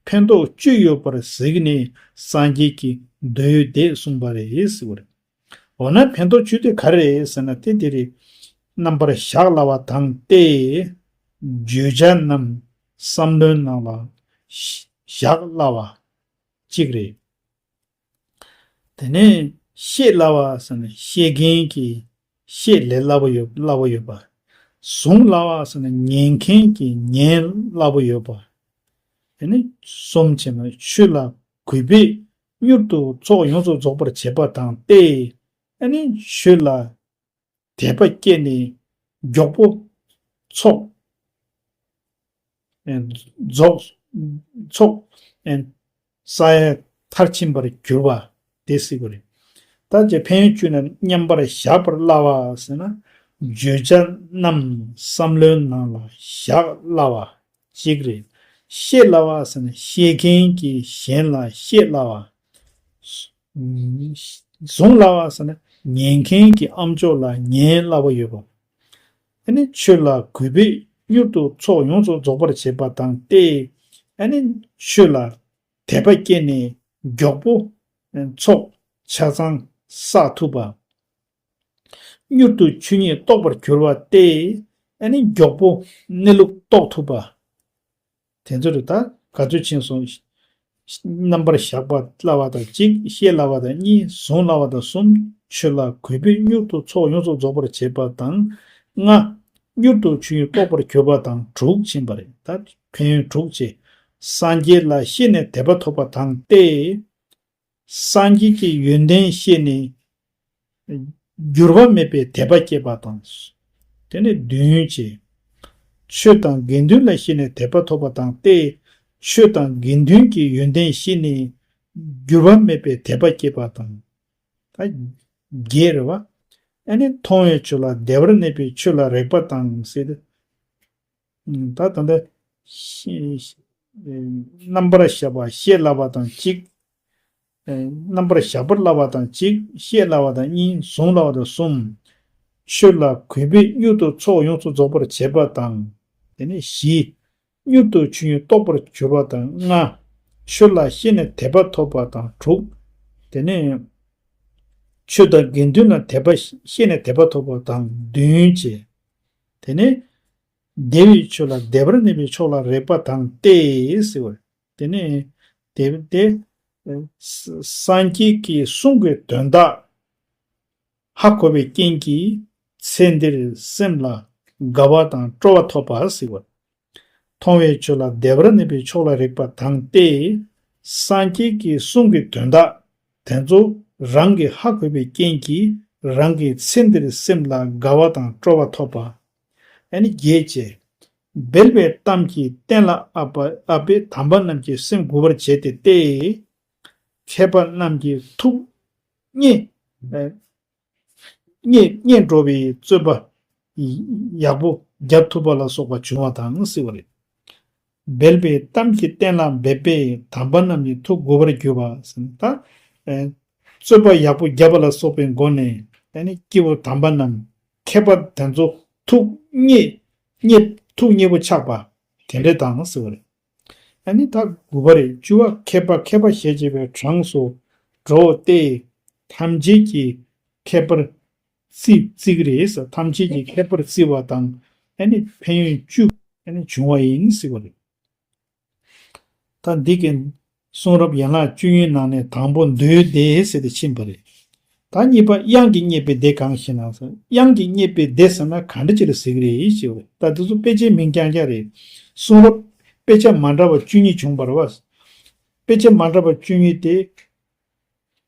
ཕན་འདོགས་བཅུ་ཡོད་པར་གཟིགས་ནས་སངས་རྒྱས་ཀྱི་མདོའི་བརྡས་གསུངས་པ་རེད། འོ་ན་ཕན་འདོགས་བཅུ་དེ་ག་རེད་ཟེར་ན་དེ་དེ་རེད། རྣམ་པར་གཞག་སླ་བ་དང་སྟེ། བརྗོད་བྱ་རྣམས་བསམ་བློའི་ནང་ལ་གཞག་སླ་བ་གཅིག་རེད། དེ་ནས་ཤེས་སླ་བ་ཟེར་ནས་ཤེས་མཁན་གྱིས་ཤེས་ལས་སླ་པོ་ཡོད་སླ་པོ་ཡོད་པ། གཟུང་སླ་བ་ཟེར་ནས་ཉན་མཁན་གྱིས་ཉན་སླ་པོ་ཡོད་པ། དེ་ནས་གསུམ་བྱས་ན་ཆོས་ལ་གུས་པས་མྱུར་དུ་ཚོགས་ཡོངས་སུ་རྫོགས་པར་བྱེད་པ་དང་སྟེ། དེ་ནས་ཆོས་ལ་དད་པ་སྐྱེས་ནས་མགྱོགས་པོ་ཚོགས། ས་ཡ་མཐར་ཕྱིན་པར་གྱུར་པ་དེ་སྲིད་པོ་རེད། ད་རྒྱ་ཕན་ཡོན་བཅུ་རྣམས་མཉམ་པར་གཞག་པར་སླ་བ་ཟེར་ན། བརྗོད་བྱ་རྣམས་བསམ་བློའི་ནང་ལ་བཞག་སླ་བ་གཅིག་རེད། ཤེས་སླ་བ་ཟེར་ན་ཤེས་མཁན་གྱིས་གཞན་ལ་ཤེས་སླ་བ། བཟུང་སླ་བ་ཟེར་ན་ཉན་མཁན་གྱི་ཨམ་ཅོག་ལ་ཉན་སླ་བོ་ཡོད་པ། ཨ་ནི་ཆོས་ལ་གུས་པས་མྱུར་དུ་ཚོགས་ཡོངས་རྫོགས་རྫོགས་པར་བྱེད་པ་དང་སྟེ། ཨ་ནི་ཆོས་ལ་དད་པ་སྐྱེས་ནས་མགྱོགས་པོ་ཚོགས་ཆ་ཚང་བསགས་ཐུབ་པ། མྱུར་དུ་ཆོས་ཉིད་རྟོགས་པར་གྱུར་བ་སྟེ། ཨ་ནི་མགྱོགས་པོ་གནས་ལུགས་རྟོགས་ཐུབ་པ། དེ་ཚོ་རུ་དང་ག་ཚོད་ཕྱིན་སོང། རྣམ་པར་གཞག་པར་སླ་བ་དང་གཅིག་ཤེས་སླ་བ་དང་གཉིས་བཟུང་སླ་བ་དང་གསུམ་ཆོད་སླ་གོལ་བུས་མྱུར་དུ་ཚོགས་ཡོངས་རྫོགས་རྫོགས་པར་བྱེད་པ་དང། ལྔ། མྱུར་དུ་ཆོས་དབྱིངས་རྟོགས་པར་གྱུར་པ་དང་དྲུག་ཕྱིན་པ་རེད་ད་ཕན་ཡོན་དྲུག་ཅེས། སངས་རྒྱས་ལ་ཤེས་ནས་དད་པ་ཐོབ་པ་དང་སྟེ། སངས་རྒྱས་ཀྱི་ཡོན་ཏན་ཤེས་ནས། འགྱུར་བ་མེད་པའི་དད་པ་བསྐྱེད་པ་དང། དེ་ནི་བདུན་ཡོན་ཅན། ཆོས་དང་དགེ་འདུན་ལ་ཤེས་ནས་དད་པ་ཐོབ་པ་དང་སྟེ། ཆོས་དང་དགེ་འདུན་གྱི་ཡོན་ཏན་ཤེས་ནས། འགྱུར་བ་མེད་པའི་དད་པ་བསྐྱེད་པ་དང། བརྒྱད་རེ་བ། ཨ་ནི་མཐོང་བའི་ཆོས་ལ་བདེ་བར་གནས་པའི་ཆོས་ལ་རེག་པ་དང། ད་ད་ལྟ། རྣམ་པར་གཞག་པ་ཤེས་སླ་བ་དང་གཅིག། རྣམ་པར་གཞག་པར་སླ་བ་དང་གཅིག་ཤེས་སླ་བ་དང་གཉིས་གཟུང་སླ་བ་དང་གསུམ། ཆོས་ལ་གུས་པས་མྱུར་དུ་ཚོགས་ཡོངས་སུ་རྫོགས་པར་བྱེད་པ་དང། དེ་ནས་བཞི། མྱུར་དུ་ཆོས་ཉིད་རྟོགས་པར་གྱུར་པ་དང་ལྔ། ཆོས་ལ་ཤེས་ནས་དད་པ་ཐོབ་པ་དང་དྲུག། དེ་ནས། ཆོས་དང་དགེ་འདུན་ལ་དད་པ་ཤེས་ནས་དད་པ་ཐོབ་པ་དང་བདུན་བཅས། དེ་ནས། བདེ་བའི་ཆོས་ལ་བདེ་བར་གནས་པའི་ཕྱོགས་ལ་རེག་པ་དང་སྟེ། དེ་ནས། དེ་བས་ཏེ། སངས་རྒྱས་ཀྱིས་གསུང་དགོས་དོན་དག། ཧ་གོ་བའི་རྐྱེན་གྱིས་ཚེ་འདིར་སེམས་ལ་དགའ་བ་དང་སྤྲོ་བ་ཐོབ་པ། མཐོང་བའི་ཆོས་ལ་བདེ་བར་གནས་པའི་ཕྱོགས་ལ་རེག་པ་དང་སྟེ། སངས་རྒྱས་ཀྱི་གསུང་གི་དོན་དག་དེ་ཚོ་རང་གི་ཧ་གོ་བའི་རྐྱེན་གྱིས་རང་གི་ཚེ་འདིར་སེམས་ལ་དགའ་བ་དང་སྤྲོ་བ་ཐོབ་པ། ཨ་ནི་རྒྱས་བཅས། སྦེལ་བའི་གཏམ་གྱིས་གཏན་ལ་ཨབ་པ་ཨབ་པའི་དམ་པ་རྣམས་ཀྱི་སེམས་མགུ་བར་བྱས་ཏེ་སྟེ། མཁས་པ་རྣམས་ཀྱི་ཐུགས། རྙེད། སྙེད་འགྲོ་བའི་བརྩོན་པ་ཡག་པོ་རྒྱབ་ཐུབ་པ་ལ་སོགས་པ་བྱུང་བ་དང་བསྲེ་བ་རེད། སྦལ་པའི་གཏམ་གྱིས་གཏན་ལ་འབེབས་པས་དམ་པ་རྣམས་ནི་ཐུགས་མགུ་བར་གྱུར་པ། བརྩོན་པ་ཡག་པོ་རྒྱབ་པ་ལ་སོགས་པའི་སྒོ་ནས་སྐྱེ་བོ་དམ་པ་རྣམས་མཁས་པ་དེ་ཚོ་ཐུགས་མཉེས་པོ་ཆགས་པ་དེ་འདྲ་དང་བསྲེ་བ་རེད། ཨ་ནི་ཐ་གུ་བ་རེ་བཅུ་བ་མཁས་པ་མཁས་པ་ཞེས་བྱ་བའི་གྲངས་སུ་འགྲོ་སྟེ། ཐམས་ཅད་ཀྱི་མཁས་པར་བརྩི། རེས་ཐམས་ཅད་ཀྱི་མཁས་པར་བརྩི་བ་དང། ཨ་ནི་ཕན་ཡོན་བཅུ། ཨ་ནི་འབྱུང་བ་ཡིན། ད་འདི་གན། གསུང་རབ་ཡན་ལག་བཅུ་ཡི་ནང་ནས་དང་པོ་མདོའི་སྡེ་ཟེར་ཏེ་ཕྱིན་པ་རེད། ད་གཉིས་པ་དབྱངས་ཀྱི་རྙེད་པའི་སྡེ་གང་ཞེ་ན། དབྱངས་ཀྱི་རྙེད་པའི་སྡེ་ཟེར་ན་ག་འདྲ་ཅི་ལ་ཟིག་རེད་ཅེས་བས་ད་འདི་ཚོ་དཔེ་ཆའི་མིང་རྐྱང་རྐྱང་རེད། གསུང་རབ། དཔེ་ཆ་མ་འདྲ་བ་བཅུ་གཉིས་བྱུང་བར་བ། དཔེ་ཆ་མ་འདྲ་བ་བཅུ་གཉིས་དེ།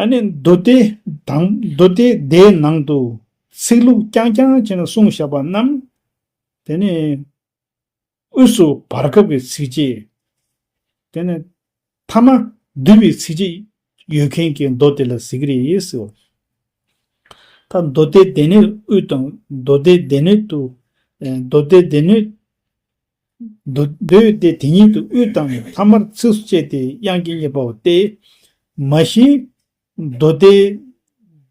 ཨ་ནི་མདོ་སྡེ་དང་མདོ་སྡེ་དེའི་ནང་དུ་ཚིག་ལྷུག་རྐྱང་རྐྱང་ཅན་གསུང་བཞག་པ་རྣམས། དེ་ནི་དབུས་སུ་བར་སྐབས་ཀྱི་ཚིག་རྗེས། དེ་ནི་ཐ་མ་བསྡུས་པའི་ཚིག་རྗེས་ཡོད་མཁན་གྱི་མདོ་སྡེ་ལ་ཟེར་གྱི་རེད་ཟེར་བ། ད་མདོ་སྡེ་དེ་ནས་དབུས་དང་མདོ་སྡེ་དེ་ནས་དུ། མདོ་སྡེ་དེ་ནས། མདོ་བསྡུས་ཏེ་དེ་ཉིད་དུ་དབུས་དང་ཐ་མར་ཚིགས་སུ་བཅད་དེ་དབྱངས་ཀྱི་རྙེད་པའོ་སྟེ། མ་གཞི། མདོ་སྡེ།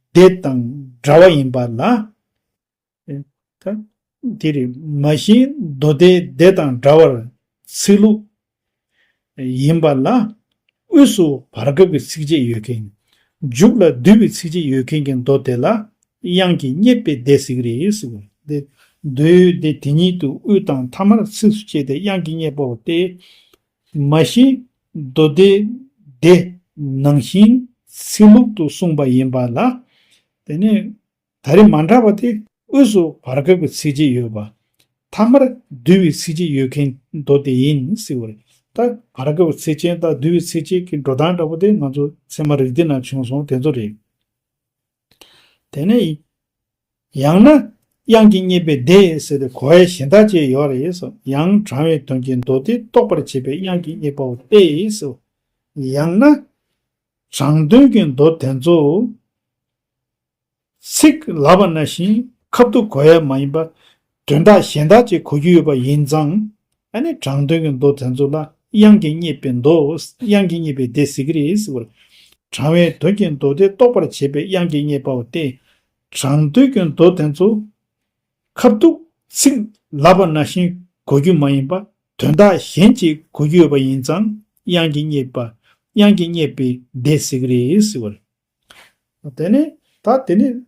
སྡེ་དང་འདྲ་བ་ཡིན་པ་ལ། དེ་རེད། མ་གཞི་མདོ་སྡེ་སྡེ་དང་འདྲ་བར་ཚིག་ལྷུག། ཡིན་པ་ལ། དབུས་སུ་བར་སྐབས་ཀྱི་ཚིགས་བཅད་ཡོད་མཁན། མཇུག་ལ་བསྡུས་པའི་ཚིགས་བཅད་ཡོད་མཁན་གྱི་མདོ་དེ་ལ། དབྱངས་ཀྱི་སྙེད་པའི་སྡེ་ཟིག་རེ་ཟེར་བ་སྟེ། མདོའི་སྡེ་དེ་ཉིད་དུ་དབུས་དང་མཐའ་མར་ཚིགས་སུ་བཅད་དེ་དབྱངས་ཀྱི་སྙེད་པའོ་སྟེ། མ་གཞི། མདོ་སྡེ་དེ། ནང་བཞིན་ཚིག་ལྷུག་ཏུ་གསུངས་པ་ཡིན་པ་ལ། དེ་ནས། ད་རེས་མ་འདྲ་བ་དེ་དབུས་སུ་བར་སྐབས་ཀྱི་ཚིག་གཅིག་ཡོད་པ། ཐ་མར་བསྡུ་བའི་ཚིག་གཅིག་ཡོད་མཁན་མདོ་དེ་ཡིན་སྲིད་བར། ད་བར་སྐབས་ཀྱི་ཚིག་ཅན་དང་བསྡུ་བའི་ཚིག་ཅན་གྱི་འགྲོ་སྟངས་འདྲ་པོ་དེ་ང་ཚོ་ཚད་མ་རིག་འདི་ན་བྱུང་སོང་དེ་ཚོ་རེད། དེ་ནས། ཡང་ན། དབྱངས་ཀྱི་རྙེད་པའི་སྡེ་ཟེར་ཏེ་གོ་བའི་གཞན་དག་ཅེས་ཡོད་རེད་སོ། ཡང་དྲང་བའི་དོན་གྱི་མདོ་སྡེ་རྟོགས་པར་བྱེད་པའི་དབྱངས་ཀྱི་རྙེད་པའོ་སྟེ་སོ། ཡང་ན། དྲང་དོན་གྱི་མདོ་དེ་ཚོ། ཚིག་ལབ་པ་ན་བཞིན་ཁབ་ཏུ་གོ་ཡ་མ་ཡིན་པ། དོན་དག་གཞན་དག་ཅིག་གོ་རྒྱུ་ཡོད་པ་ཡིན་ཙང། དྲང་དོན་གྱི་མདོ་དེ་ཚོ་ལ་དབྱངས་ཀྱིས་བསྙེགས་པའི་མདོ། དབྱངས་ཀྱིས་བསྙེགས་པའི་སྡེ་ཟེར་གྱི་རེད་ཟེར་བ་ལ། དྲང་བའི་དོན་གྱི་མདོ་དེ་རྟོགས་པར་བྱེད་པའི་དབྱངས་ཀྱིས་བསྙེགས་པའོ་སྟེ། དྲང་དོན་གྱི་མདོ་དེ་ཚོ། ཁབ་ཏུ། ཚིག་ལབ་པ་ན་བཞིན་གོ་རྒྱུ་མ་ཡིན་པ། དོན་དག་གཞན་ཅིག་གོ་རྒྱུ་ཡོད་པ་ཡིན་ཙང། དབྱངས་ཀྱིས་བསྙེགས་པ། དབྱངས་ཀྱིས་བསྙེགས་པའི་སྡེ་ཟེར་གྱི་རེད་ཟེར་བ་ལ། དེ་ནས་ད་དེ་ནས།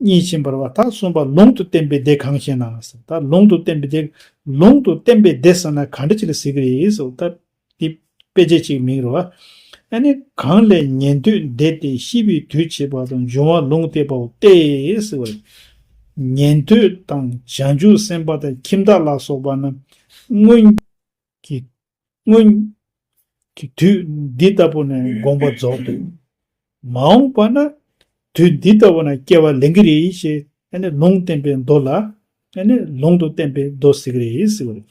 གཉིས་ཕྱིན་པར་བ་ད་གསུམ་པ་ལུང་དུ་བསྟན་པའི་སྡེ་གང་ཞེ་ན། ད་ལུང་དུ་བསྟན་པའི་སྡེ། ལུང་དུ་བསྟན་པའི་སྡེ་ཟེར་ན་ག་འདྲ་ཅིག་ལ་ཟེར་གྱི་རེད། ད་དེ་དཔེ་བྱད་ཅིག་མིང་རུ་བ། ཨ་ནི་གང་ལས་ཉན་ཐོས་འདས་ཏེ་ཤི་བའི་དུས་བྱེད་པ་དང་འབྱུང་བ་ལུང་བསྟན་པའོ་སྟེ། ཉན་ཐོས་དང་བྱང་ཆུབ་སེམས་དཔའ་དང་ཁྱིམ་བདག་ལ་སོགས་པ་རྣམས་སྔོན་གྱི། སྔོན་གྱི་དུས་འདི་ལྟ་བུ་ནས་དགོངས་པ་རྫོགས་འདུག། མ་འོངས་པ་ན་དུས་འདི་ལྟ་བུ་ན་སྐྱེ་བ་ལེན་གྱི་རེད་ཞེས་ལུང་བསྟན་པའི་མདོ་ལ། ལུང་དུ་བསྟན་པའི་མདོ་ཟེར་གྱི་རེད་ཟེར་བ་རེད།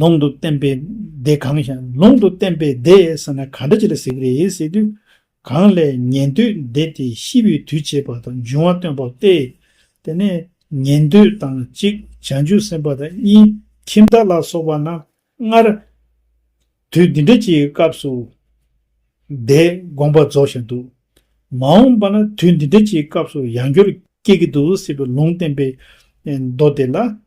ལུང་དུ་བསྟན་པའི་སྡེ་གང་ཞེ་ན་ལུང་དུ་བསྟན་པའི་སྡེ་ཟེར་ན་ག་འདྲ་ཅིག་ལ་ཟེར་གྱི་རེད་ཟེར་དུས། གང་ལས་ཉན་ཐོས་འདས་དེ་ཤི་བའི་དུས་བྱེད་པ་དང་འབྱུང་བ་སྟོན་པ་སྟེ། དེ་ནས་ཉན་ཐོས་དང་གཅིག་བྱང་ཆུབ་སེམས་དཔའ་དང་གཉིས་ཁྱིམ་བདག་ལ་སོགས་པ་རྣམས་སྔར། དུས་འདི་འདྲ་ཅིག་སྐབས་སུ། དེས་དགོངས་པ་རྫོགས་ཤིང་འདུག། མ་འོངས་པ་ན་དུས་འདི་འདྲ་ཅིག་སྐབས་སུ་ཡང་འགྱུར་སྐྱེ་གི་འདུག་སྲིད་པའི་ལུང་བསྟན་པའི་མདོ་དེ་ལ་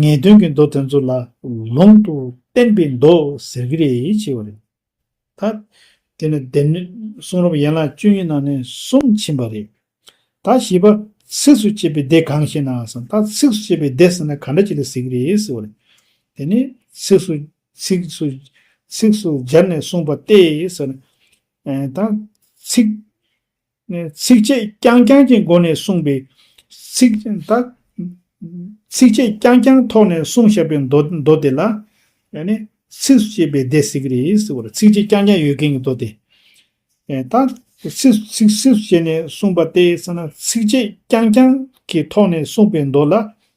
ངེས་དོན་གྱི་མདོ་དེ་ཚོ་ལ་ལུང་དུ་བསྟན་པའི་མདོ་ཟེར་གྱི་རེད་ཅེས་པ་རེད། ད་དེ་ནི་བདེན་མེད་གསུང་རབ་ཡན་ལག་བཅུ་གཉིས་ནང་ནས་གསུང་ཕྱིན་པ་རེད། ད་བཞི་པ་ཚིགས་སུ་བཅད་པའི་སྡེ་གང་ཞེ་ན་གསང་སྟག་ཚིགས་སུ་བཅད་པའི་སྡེ་ཟེར་ན་ག་འདྲ་ཅིག་ལ་ཟེར་གྱི་རེད་ཟེར་བ་རེད། དེ་ནི་ཚིགས་སུ་ཚིགས་སུ་ཚིགས་སུ་སྦྱར་ནས་གསུངས་པ་སྟེ་ཟེར། ད་ཚིགས། ཚིགས་བཅད་རྐྱང་རྐྱང་གི་སྒོ་ནས་གསུངས་པའི། ཚིགས་བཅད་རྐྱང་རྐྱང་ཐོག་ནས་གསུངས་བཞག་པའི་མདོ་སྡེ་ལ། ཚིགས་སུ་བཅད་པའི་སྡེ་ཟེར་གི་རེད་ཟེར་བ་རེད། ཚིགས་བཅད་རྐྱང་རྐྱང་ཡོད་མཁན་གྱི་མདོ་སྡེ། ད། ཚིགས་སུ་བཅད་ནས་གསུངས་པ་སྟེ་ཚིགས་བཅད་རྐྱང་རྐྱང་གི་ཐོག་ནས་གསུངས་པའི་མདོ་ལ།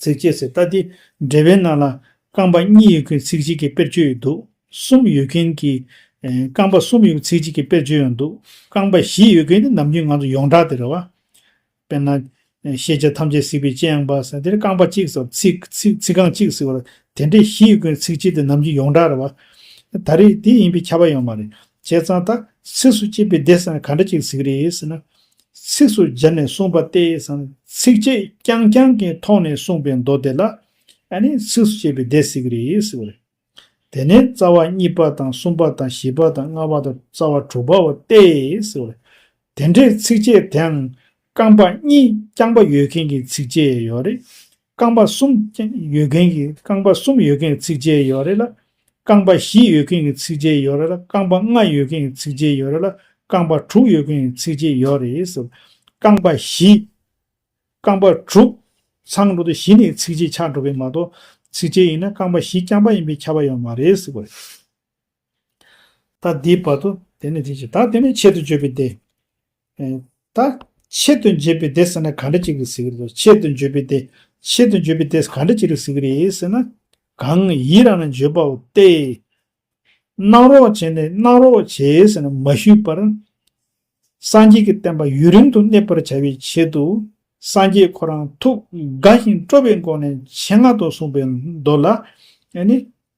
ཚིག་བཅད་ཚེ་ལྟ་དེ་འབྲེལ་བའི་ནང་ལ་རྐང་པ་གཉིས་ཡོད་མཁན་ཚིག་གཅིག་གི་དཔེར་བརྗོད་ཡོད་འདུག་གསུམ་ཡོད་མཁན་གྱི། རྐང་པ་གསུམ་ཡོད་ཚིག་གཅིག་གི་དཔེར་བརྗོད་ཡང་འདུག་རྐང་པ་བཞི་ཡོད་མཁན་ནི་ནམ་རྒྱུན་ང་ཚོ་ཡོངས་གྲགས་དེ་རེད་བ། དཔེར་ན། ཤེས་བྱ་ཐམས་ཅད་གཟིགས་པའི་སྤྱན་ཡང་འབར་ཟེར་དེར་རྐང་པ་གཅིག་ཟེར་བ་ཚིག་ཚིག་རྐང་གཅིག་ཟེར་བ་དེ་འདྲས་བཞི་ཡོད་མཁན་ཚིག་གཅིག་དེ་ནམ་རྒྱུན་ཡོངས་གྲགས་རེད་བ། ད་རེས་དེ་ཡིན་པའི་ཁྱབ་པ་ཡང་མ་རེད་བྱས་ཙང་ད་ཚིགས་སུ་བཅད་པའི་བདེ་སར་ག་འདྲ་གཅིག་གཟིགས་རེད་ཟེར་ན། ཚིགས་སུ་བཅད་ནས་གསུངས་པ་སྟེ་སམ་ཚིགས་བཅད་རྐྱང་རྐྱང་གི་ཐོག་ནས་གསུངས་པའི་མདོ་དེ་ལ་ཨ་ནི་ཚིགས་སུ་བཅད་པའི་སྡེ་ཟེར་གྱི་རེད་ཟེར་བ་རེད། དེ་ནས་རྩ་བ་གཉིས་པ་དང་གསུམ་པ་དང་བཞི་པ་དང་ལྔ་པ་དང་རྩ་བ་དྲུག་པའོ་སྟེ་ཟེར་བ་རེད། དེ་འདྲའི་ཚིགས་བཅད་དེའང་རྐང་པ་གཉིས་རྐྱང་པ་ཡོད་མཁན་གྱི་ཚིགས་བཅད་ཡོད་རེད། རྐང་པ་གསུམ་ཡོད་མཁན་གྱི་རྐང་པ་གསུམ་ཡོད་མཁན་གྱི་ཚིགས་བཅད་ཡོད་རེད་ལ། རྐང་པ་བཞི་ཡོད་མཁན་གྱི་ཚིགས་བཅད་ཡོད་རེད་ལ་རྐང་པ་ལྔ་ཡོད་མཁན་གྱི་ཚིགས་བཅད་ཡོད་རེད་ལ་རྐང་པ་དྲུག་ཡོད་མཁན་གྱི་ཚིགས་བཅད་ཡོད་རེད། རྐང་པ་བཞི། རྐང་པ་དྲུག། ཚང་འགྲོ་དུ་བཞི་ནི་ཚིགས་བཅད་ཆགས་འགྲོ་མཁན་མ་གཏོགས། ཚིགས་བཅད་ཡིན་ན་རྐང་པ་བཞི་རྐྱང་པ་ཡིན་པའི་ཁྱབ་པ་ཡོད་མ་རེད། ད་དེའི་བར་དུ་དེ་ནི་དེ་བཞིན་ད་དེ་ནི་ཆེད་དུ་བརྗོད་པའི་སྡེ། ད་ཆེད་དུ་འབྱེད་པའི་སྡེ་ཟེར་ན་གང་འདྲ་ཅིག་རེད་ཟེར་གྱི་རེད་དོ་ཆེད་དུ་བརྗོད་པའི་སྡེ། ཆེད་དུ་བརྗོད་པའི་སྡེ་གང་འདྲ་ཅིག་རེད་ཟེར་གྱི་རེད་ཟེར་ན། གང་ཡིད་རང་ན་བརྗོད་པའོ་སྟེ། སྣང་རོགས་བྱས་ནས་སྣང་རོགས་བྱས་ཟེར་ན་མ་ཞུས་པར། སངས་རྒྱས་ཀྱི་བསྟན་པ་ཡུན་རིང་དུ་གནས་པར་བྱ་བའི་ཆེད་དུ། སངས་རྒྱས་ཁོ་རང་ཐུགས་དགའ་ཞིང་སྤྲོ་བའི་སྒོ་ནས་ཆེད་མངགས་ཏུ་གསུངས་པའི་མདོ་ལ།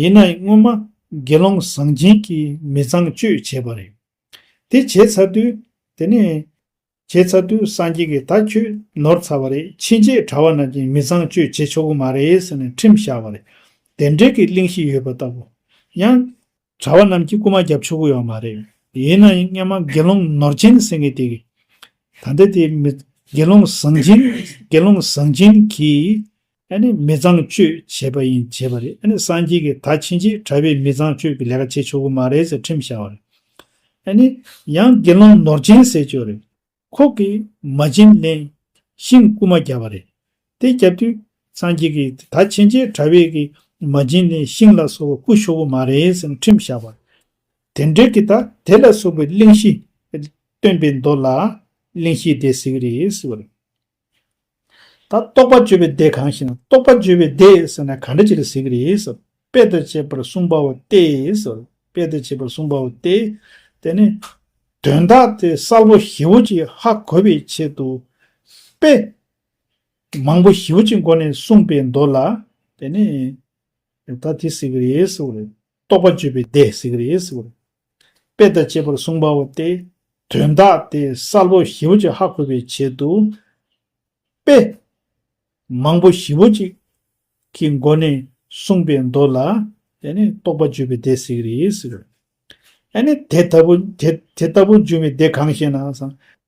ཡིན་ནའི་སྔོན་མ་དགེ་སློང་བཟང་སྦྱིན་གྱིས་མི་ཚངས་སྤྱོད་བྱས་པ་རེད། དེ་བྱས་ཚར་དུས། དེ་ནས། བྱས་ཚར་དུས་སངས་རྒྱས་ཀྱིས་ད་ཁྱོད་ནོར་ཚར་བ་རེད་ཕྱིན་ཆད་གྲྭ་བ་རྣམས་ཀྱིས་མི་ཚངས་སྤྱོད་བྱེད་ཆོག་གི་མ་རེད་ཟེར་ནས་ཁྲིམས་བཞག་པ་རེད། དེ་འབྲེལ་གྱི་གླེང་གཞི་ཡོད་པ་ལྟ་བུ། ཡང། གྲྭ་བ་རྣམས་ཀྱིས་རྐུ་མ་བརྒྱབ་ཆོག་གི་ཡོད་མ་རེད། ཡིན་ན་ཡང་སྔན་མ་དགེ་སློང་ནོར་ཅན་གྱི་སེང་གེ་དེ། ད་ལྟ་དེ་མི། དགེ་སློང་བཟང་ཅན། དགེ་སློང་བཟང་ཅན་གྱིས། ཨ་ནི་མི་ཚངས་སྤྱོད་བྱས་པ་ཡིན་བྱས་པ་རེད་ཨ་ནི་སངས་རྒྱས་ཀྱི་ད་ཕྱིན་ཆད་གྲྭ་བས་མི་ཚངས་སྤྱོད་ཀྱི་ལས་ཀ་བྱེད་ཆོག་གི་མ་རེད་ཟེར་ཁྲིམས་བཞག་པ་རེད། ཨ་ནི། ཡང་དགེ་སློང་ནོར་ཅན་ཟེར་ཀྱོ་རེད། ཁོག་གི་མ་བྱིན་བརླན། ཤིང་རྐུ་མ་བརྒྱབ་པ་རེད། དེ་བརྒྱབ་དུས་སངས་རྒྱས་ཀྱིས་ད་ཕྱིན་ཆད་གྲྭ་བས་ཀྱི་མ་བྱིན་བརླན་ཤིང་ལ་སོགས་པ་རྐུ་ཆོག་གི་མ་རེད་ཟེར་ཁྲིམས་བཞག་པ། དེ་འབྲེལ་གྱི་ད་དེ་ལ་སོགས་པའི་གླེང་གཞི་སྟོན་པའི་མདོ་ལ་གླེང་གཞི་དེ་ཟེར་གྱི་རེད། ད་རྟོགས་པ་བརྗོད་པའི་སྡེ་གང་ཞེ་ན་རྟོགས་པ་བརྗོད་པའི་སྡེ་ཟེར་ན་ག་འདྲ་ཅིག་ལ་ཟེར་གྱི་རེད། དཔེ་ལྟར་བྱས་པར་གསུངས་པའོ་སྟེ། དཔེ་ལྟར་བྱས་པར་གསུངས་པའོ་སྟེ། དེ་ནི། དོན་དག་དེ་གསལ་པོ་ཞིབ་བོ་ཅིག་ཧ་གོ་བའི་ཆེད་དུ། དཔེ། མང་པོ་ཞིབ་བོ་ཅིག་མགོ་ནས་གསུངས་པའི་མདོ་ལ། དེ་ནི། ད་དེ་ཟེར་གྱི་རེད། རྟོགས་པ་བརྗོད་པའི་སྡེ་ཟེར་གྱི་རེད། དཔེ་དང་བཅས་པར་གསུངས་པའོ་སྟེ། དོན་དག་དེ་གསལ་པོ་བཞི་བོ་གཅིག་ཧ་གོ་བའི་ཆེད་དུ། དཔེ། མང་པོ་བཞི་བོ་གཅིག། གི་སྒོ་ནས་གསུངས་པའི་མདོ་ལ། དེ་ནི་རྟོགས་པ་བརྗོད་པའི་སྡེ་ཟེར་གྱི། ཨ་ནི། དེ་ལྟ་བུ་འབྱུང་བའི་སྡེ་གང་ཞེ་ན།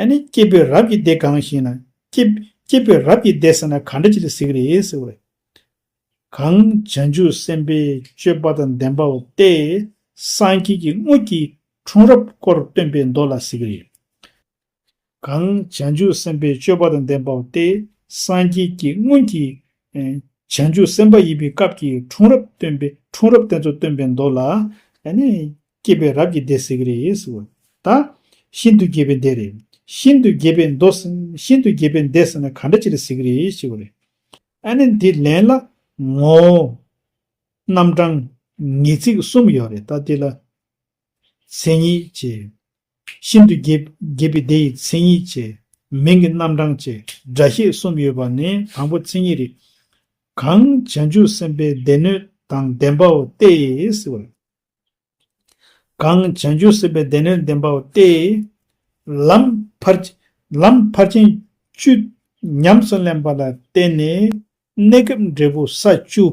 ཨ་ནི་སྐྱེས་བུའི་རབས་ཀྱི་སྡེ་གང་ཞེ་ན། སྐྱེས་བུའི་རབས་ཀྱི་སྡེ་ཟེར་ན་ག་འདྲ་ཅིག་ལ་གཟིགས་རེད་ཟེར་བས། གང་བྱང་ཆུབ་སེམས་དཔའི་སྤྱོད་པ་དང་ལྡན་པའོ་སྟེ། སངས་རྒྱས་ཀྱི་དངོས་ཀྱི་འཁྲུངས་རབས་སྐོར་སྟོན་པའི་མདོ་ལ་གཟིགས་རེད། གང་བྱང་ཆུབ་སེམས་དཔའི་སྤྱོད་པ་དང་ལྡན་པའོ་སྟེ། སངས་རྒྱས་ཀྱི་སྔོན་གྱི་བྱང་ཆུབ་སེམས་དཔའ་ཡིན་པའི་སྐབས་ཀྱི་འཁྲུངས་རབས་སྟོན་པའི་འཁྲུངས་རབས་དེ་ཚོ་སྟོན་པའི་མདོ་ལ། སྐྱེས་པའི་རབས་ཀྱི་སྡེ་ཟེར་གྱི་རེད་ཟེར་བ་དང། ཤིན་ཏུ་རྒྱས་པའི་སྡེ་རེད། ཤིན་ཏུ་རྒྱས་པའི་མདོ་ཟེར་ན་ཤིན་ཏུ་རྒྱས་པའི་སྡེ་ཟེར་ན་ག་འདྲ་ཅི་རེད་ཟེར་གྱི་རེད་ཞེས་བ་རེད། ཨ་ནི་འདི་ལན་ལ། ངོ་བོ། རྣམ་གྲངས། ངེས་ཚིག་གསུམ་ཡོད་རེད་ད་དེ་ལ། མཚན་ཉིད་ཅེས། ཤིན་ཏུ་རྒྱས་པའི་སྡེ་ཡི་མཚན་ཉིད་ཅེས། མིང་གི་རྣམ་གྲངས་ཅེས་སྒྲ་བཤད་གསུམ་ཡོད་པ་ནི་དང་པོ་མཚན་ཉིད་རེད། གང། བྱང་ཆུབ་སེམས་དཔའི་སྡེ་སྣོད་དང་ལྡན་པའོ་སྟེ་ཟེར་བ་རེད། གང་བྱང་ཆུབ་སེམས་དཔའི་སྡེ་སྣོད་ལྡན་པའོ་སྟེ། ལམ་བར་ཆད་བཅུ་ཉམས་སུ་ལེན་པ་ལ་བརྟེན་ནས་གནས་སྐབས་འབྲས་བུ་ས་བཅུ།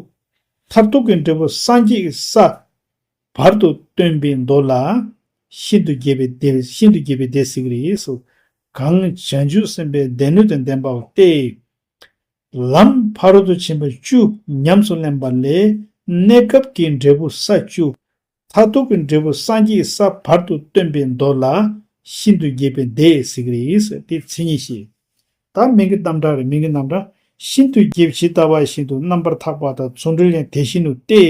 མཐར་ཐུག་གི་འབྲས་བུ་སངས་རྒྱས་ཀྱི་ས། བར་དུ་སྟོན་པའི་མདོ་ལ། ཤིན་ཏུ་རྒྱས་པའི་སྡེ་ཟེར་གྱི་རེད། གང་བྱང་ཆུབ་སེམས་དཔའི་སྡེ་སྣོད་དང་ལྡན་པའོ་སྟེ། ལམ་བར་དུ་ཕྱིན་པ་བཅུ་ཉམས་སུ་ལེན་པ་ལས་གནས་སྐབས་ཀྱི་འབྲས་བུ་ས་བཅུ། མཐར་ཐུག་གི་འབྲས་བུ་སངས་རྒྱས་ས་བར་དུ་སྟོན་པའི་མདོ་ལ། ཤིན་ཏུ་རྒྱས་པའི་སྡེས་གཟིགས་རིགས་ཏེ་མཚན་ཉིད་བཞི། དག་མིན་གྱི་རྣམ་གྲངས་རིགས་མིན་གྱི་རྣམ་གྲངས། ཤིན་ཏུ་རྒྱས་ཇི་ལྟ་བ་བཞིན་དུ་རྣམ་པར་འཐག་པ་དང་མཚུངས་འབྲེལ་ཡང་དེ་བཞིན་ནོ་སྟེ།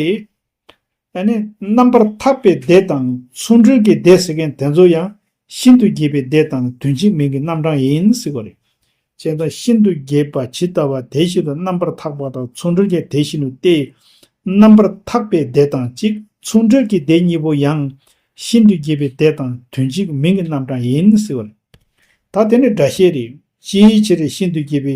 ཡང་ན་རྣམ་པར་ཐར་པའི་སྡེ་དང་ཆོ་འཕྲུལ་གྱི་སྡེ་ཟེར་མཁན་དེ་ཚོ་ཡང་ཤིན་ཏུ་རྒྱས་པའི་སྡེ་དང་དོན་གཅིག་མིང་གི་རྣམ་གྲངས་ཡིན་ཟེར་བ་རེད། ཅེས་དང་ཤིན་ཏུ་རྒྱས་པ་ཇི་ལྟ་བ་དེ་བཞིན་དུ་རྣམ་པར་ཐག་པ་དང་ཆོ་འཕྲུལ་གྱི་དེ་བཞིན་དུ་སྟེ། རྣམ་པར་ཐག་པའི་སྡེ་དང་གཅིག་ཆོ་འཕྲུལ་གྱི་སྡེ་གཉིས་པོ་ཡང་ཤིན་ཏུ་རྒྱས་པའི་སྡེ་དང་དོན་གཅིག་མིང་གི་རྣམ་གྲངས་ཡིན་ཟེར་བ་རེད། ད་དེ་ནི་སྒྲ་བཤད་རེད། ཅིའི་ཕྱིར་ཤིན་ཏུ་རྒྱས་པའི་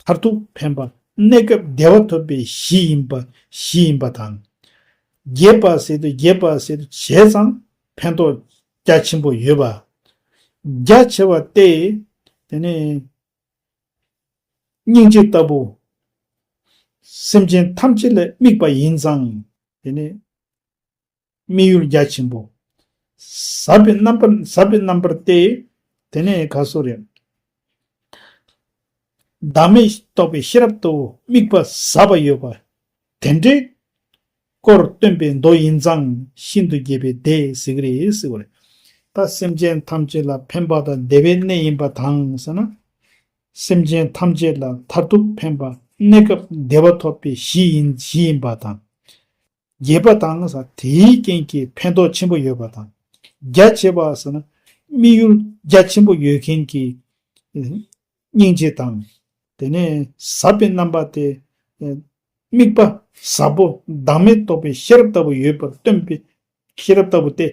མཐར་ཐུག་ཕན་པ་གནས་སྐབས་བདེ་བ་ཐོབ་པའི་གཞི་ཡིན་པ་གཞི་ཡིན་པ་དང། རྒྱས་པར་ཟེར་དུས་རྒྱས་པར་ཟེར་དུ་བྱས་ཙང་ཕན་ཐོགས་རྒྱ་ཆེན་པོ་ཡོད་པ་རྒྱ་ཆེ་བ་སྟེ། དེ་ནི། སྙིང་རྗེ་ལྟ་བུ། སེམས་ཅན་ཐམས་ཅད་ལ་དམིགས་པ་ཡིན་ཙང། དེ་ནི། དམིགས་ཡུལ་རྒྱ་ཆེན་པོ། ཟབ་པའི་རྣམ་པར་ཟབ་པའི་རྣམ་པར་ཏེ། དེ་ནས་ག་སོ་རེ། བདག་མེད་རྟོགས་པའི་ཤེས་རབ་ཏུ་དམིགས་པ་ཟབ་པ་ཡོད་པ། དེ་འདྲའི། སྐོར་སྟོན་པའི་མདོ་ཡིན་ཙང་ཤིན་ཏུ་རྒྱས་པའི་སྡེ་ཟིག་རེད། ད་སེམས་ཅན་ཐམས་ཅད་ལ་ཕན་པ་དང་བདེ་བའི་གནས་ཡིན་པ་དང་ཟེར་ན། སེམས་ཅན་ཐམས་ཅད་ལ་མཐར་ཐུག་ཕན་པ་གནས་སྐབས་བདེ་བ་ཐོབ་པའི་གཞི་ཡིན་གཞི་ཡིན་པ་དང། རྒྱས་པ་དང་དེའི་རྐྱེན་གྱིས་ཕན་ཐོགས་ཆེན་པོ་ཡོད་པ་དང། རྒྱ་ཆེ་བ་ཟེར་ན་དམིགས་ཡུལ་རྒྱ་ཆེན་པོ་ཡོད་མཁན་གྱི་སྙིང་རྗེ་དང། དེ་ནས་ཟབ་པའི་རྣམ་པ་སྟེ། དམིགས་པ་ཟབ་པོ་བདག་མེད་རྟོགས་པའི་ཤེས་རབ་ལྟ་བུ་ཡོད་པར་སྟོན་པའི་ཤེས་རབ་ལྟ་བུ་སྟེ།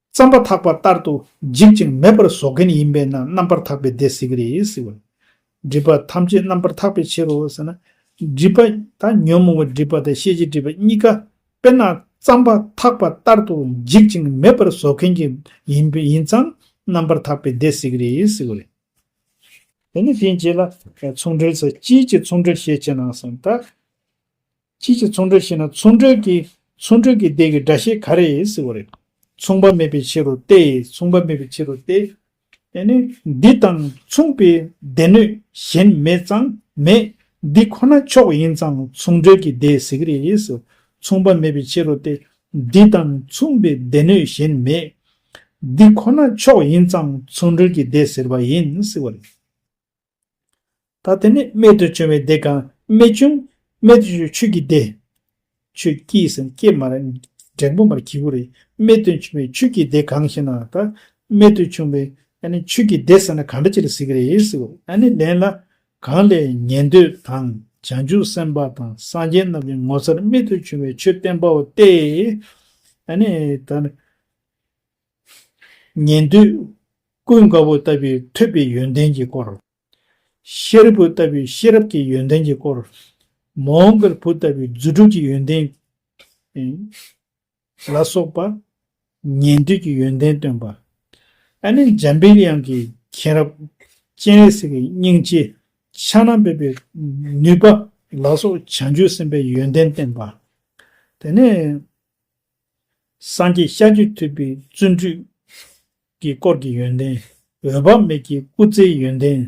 རྩམ་པ་འཐག་པ་ལྟར་དུ་འཇིག་ཅིང་མེད་པར་བཟོ་མཁན་ཡིན་པས་ན་རྣམ་པར་འཐག་པའི་སྡེ་ཟེར་གྱི་རེད་ཟེར་བ། སྒྲིབ་པ་ཐམས་ཅད་རྣམ་པར་འཐག་པའི་ཕྱིར་རོ་ཟེར་ན། སྒྲིབ་པ་དང་ཉོན་མོངས་པའི་སྒྲིབ་པ་དང་ཤེས་བྱའི་སྒྲིབ་པ་གཉིས་ཀ་དཔེར་ན་རྩམ་པ་འཐག་པ་ལྟར་དུ་འཇིག་ཅིང་མེད་པར་བཟོ་མཁན་གྱི་ཡིན་པས་ཡིན་ཙང་རྣམ་པར་འཐག་པའི་སྡེ་ཟེར་གྱི་རེད་ཟེར་བ་རེད། དེ་ནི་དེའི་རྗེས་ལ་མཚུངས་འབྲེལ་ཚུལ་དཔྱིད་ཀྱི་མཚུངས་འབྲེལ་ཤེས་ཅི་གནང་གསུངས་ལྟར། ཁྱེད་ཀྱིས་མཚུངས་གྲོལ་ཤེས་ན་མཚུངས་གྲོལ་གྱིས་མཚུངས་གྲོལ་གྱི་ལྡན་གྱི་སྒྲ་ཤེས་ག་རེ་ཡིན་ཟེར་བ་རེད། མཚུངས་པ་མེད་པའི་ཕྱིར་རོ་སྟེ་མཚུངས་པ་མེད་པའི་ཕྱིར་རོ་སྟེ། དེ་ནི་འདི་དང་མཚུངས་པའི་སྡེ་སྣོད་གཞན་མེད་ཙང་མེད་འདི་ཁོ་ན་མཆོག་ཡིན་ཙང་མཚུངས་གྲོལ་གྱི་སྡེ་ཟེར་གི་རེད་ཟེར། མཚུངས་པ་མེད་པའི་ཕྱིར་རོ་སྟེ། འདི་དང་མཚུངས་པའི་སྡེ་སྣོད་གཞན་མེད། འདི་ཁོ་ན་མཆོག་ཡིན་ཙང་མཚུངས་གྲོལ་གྱི་སྡེ་ཟེར་བ་ཡིན་ཟེར་བ་རེད། ད་དེ་ནས་རྨད་དུ་བྱུང་བའི་སྡེ་གང་རྨད་བྱུང། རྨད་དུ་བྱུང་ཆོས་ཀྱི་སྡེ། ཆོས་སྐྱེས་སམ་སྐྱེས་མ་རེད། འབྲིང་པོ་མར་གྱི་གུ་རེད། རྨད་དུ་བྱུང་བའི་ཆོས་ཀྱི་སྡེ་གང་ཞེ་ན། ད་རྨད་དུ་བྱུང་བའི། ཆོས་ཀྱི་སྡེ་ཟེར་ན་གང་འདྲ་ཅིག་ལ་ཟེར་གྱི་རེད་ཟེར། ལན་ལ། གང་ལས་ཉན་ཐོས་དང་བྱང་ཆུབ་སེམས་དཔའ་དང་སངས་རྒྱས་རྣམས་ཀྱི་ངོ་མཚར་རྨད་དུ་བྱུང་བའི་ཆོས་བསྟན་པའོ་སྟེ། ད། ཉན་ཐོས་ཀུན་དགའ་བོ་ལྟ་བུའི་ཐོས་པའི་ཡོན་ཏན་གྱི་སྐོར། ཤེས་རབ་བུ་ལྟ་བུའི་ཤེས་རབ་ཀྱི་ཡོན་ཏན་གྱི་སྐོར། མོའོ་མགར་བུ་ལྟ་བུའི་རྫུ་འཕྲུལ་གྱི་ཡོན་ཏན། ལ་སོགས་པ་ཉན་ཐོས་ཀྱི་ཡོན་ཏན་སྟོན་པ། ཨ་ནི་འཇམ་དཔལ་དབྱངས་ཀྱི་མཁྱེན་རབ། སྤྱན་རས་གཟིགས་ཀྱི་སྙིང་རྗེ། ཕྱག་ན་འབེབས་པའི་ནུས་པ། ལ་སོགས་བྱང་ཆུབ་སེམས་དཔའི་ཡོན་ཏན་བསྟན་པ། དེ་ནས། སངས་རྒྱས་ཤ་རྒྱུད་ཐུབ་པའི་བརྩོན་འགྲུས། ཀྱི་དཀོར་གྱི་ཡོན་ཏན། འོད་དཔག་མེད་ཀྱི་སྐུ་ཚེའི་ཡོན་ཏན།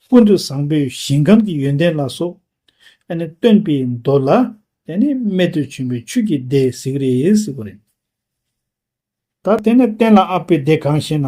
ཀུན་ཏུ་བཟང་པོའི་ཞིང་ཁམས་ཀྱི་ཡོན་ཏན་ལ་སོགས། སྟོན་པའི་མདོ་ལ། རྨད་དུ་བྱུང་བའི་ཆོས་ཀྱི་སྡེ་ཟེགས་རེ་ཟེགས་པ་རེད། ད། བསྟན་ལ་ཨ་ཕའི་སྡེ་གང་ཞེ་ན།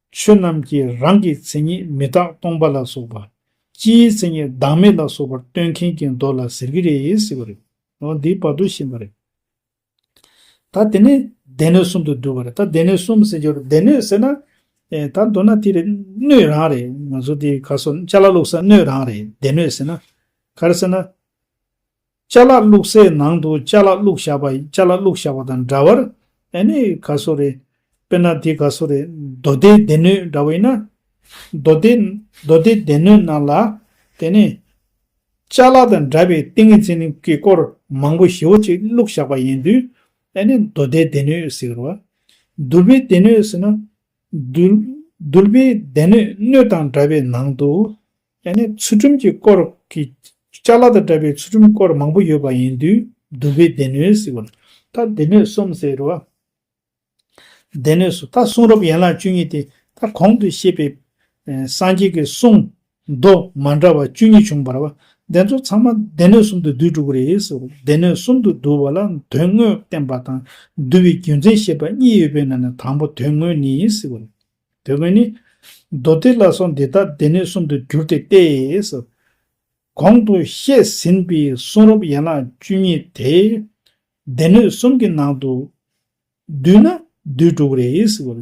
ཆོས་རྣམས་ཀྱི་རང་གི་མཚན་ཉིད་མི་རྟག་སྟོང་པ་ལ་སོགས་པ། སྤྱིའི་མཚན་ཉིད་བདག་མེད་ལ་སོགས་པར་སྟོན་མཁན་གྱི་མདོ་ལ་ཟེར་གྱི་རེད་ཟེར་བ་རེད། འོ་འདིའི་བར་དུ་ཤེས་པ་རེད། ད་དེ་ནས་སྡེ་སྣོད་གསུམ་དུ་བསྡུ་བ་རེད། ད་སྡེ་སྣོད་གསུམ་ཟེར་གྱི་རེད། སྡེ་སྣོད་ཟེར་ན། ད་མདོར་ན་དེ་རེད། སྣོད་རང་རེད། ང་ཚོ་དེ་ག་སོ་ལྕགས་ལ་བླུགས་ས་སྣོད་རང་རེད་སྡེ་སྣོད་ཟེར་ན། ག་རེ་ཟེར་ན། བཅའ་ལག་བླུག་སའི་ནང་དུ་བཅའ་ལག་བླུག་བཞག་པ་བཅའ་ལག་བླུག་བཞག་པ་དང་འདྲ་བར། ཨེ་ནི་ག་སོ་རེད། དཔེར་ན་དེ་ག་སོ་རེད་མདོ་སྡེའི་སྡེ་སྣོད་འདྲ་བོ་ཡིན་ན། མདོ་སྡེ། མདོ་སྡེའི་སྡེ་སྣོད་ནང་ལ། དེ་ནི། བཅའ་ལག་དང་འདྲ་བའི་ཏིང་ངེ་འཛིན་གྱི་སྐོར་མང་པོ་ཞེ་བོ་ཅིག་བླུག་བཞག་པ་ཡིན་དུས། ཨེ་ནི་མདོ་སྡེའི་སྡེ་སྣོད་ཟེར་རོ། དུར་བའི་སྡེ་སྣོད་ཟེར་ན། དུར་བའི་སྡེ་སྣོད་སྣོད་དང་འདྲ་བའི་ནང་དུ། ཡང་ན་ཚུལ་ཁྲིམས་ཀྱི་སྐོར་གྱི། ལྕགས་ལ་དང་འདྲ་བའི་ཚུལ་ཁྲིམས་སྐོར་མང་པོ་ཡོད་པ་ཡིན་དུས་བསྡུ་བའི་སྡེ་སྣོད་ཟེར་བ་ལ། ད་སྡེ་སྣོད་གསུམ་ཟེར་རོ། སྡེ་སྣོད་སུ་ད་གསུང་རབ་ཡན་ལག་བཅུ་གཉིས་ཏེ་ད་གོང་དུ་བཤད་པའི། སངས་རྒྱས་ཀྱི་གསུང། མདོ་མ་འདྲ་བ་བཅུ་གཉིས་བྱུང་བར། བ་དེ་ཚོ་ཚང་མ་སྡེ་སྣོད་གསུམ་དུ་བསྡུས་འགྲོ་གི་རེད་ཟེར་བ་ལ་སྡེ་སྣོད་གསུམ་དུ་བསྡུ་བ་ལ་དོན་དངོས་བསྟན་པ་དང་བསྡུ་བའི་རྒྱུ་མཚན་བཤད་པ་གཉིས་ཡོད་པའི་ནང་ནས་དང་པོ་དོན་དངོས་ནི་ཟེར་བ་ལ། དེ་བས་ནི། མདོ་སྡེ་ལ་སོགས་འདི་དག་སྡེ་སྣོད་གསུམ་དུ་འགྱུར་ཏེ་སྟེ། གོང་དུ་བཤད་ཟིན་པའི་གསུང་རབ་ཡན་ལག་བཅུ་གཉིས་དེ། སྡེ་སྣོད་གསུམ་གྱི་ནང་དུ། བསྡུས་ན་བསྡུས་དྲུག་རེ་ཞེས་པ།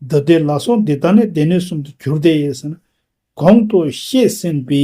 མདོ་སྡེ་ལ་སོགས་འདི་དག་ནི་སྡེ་སྣོད་གསུམ་དུ་འགྱུར་ཏེ། གོང་དུ་བཤད་ཟིན་པའི་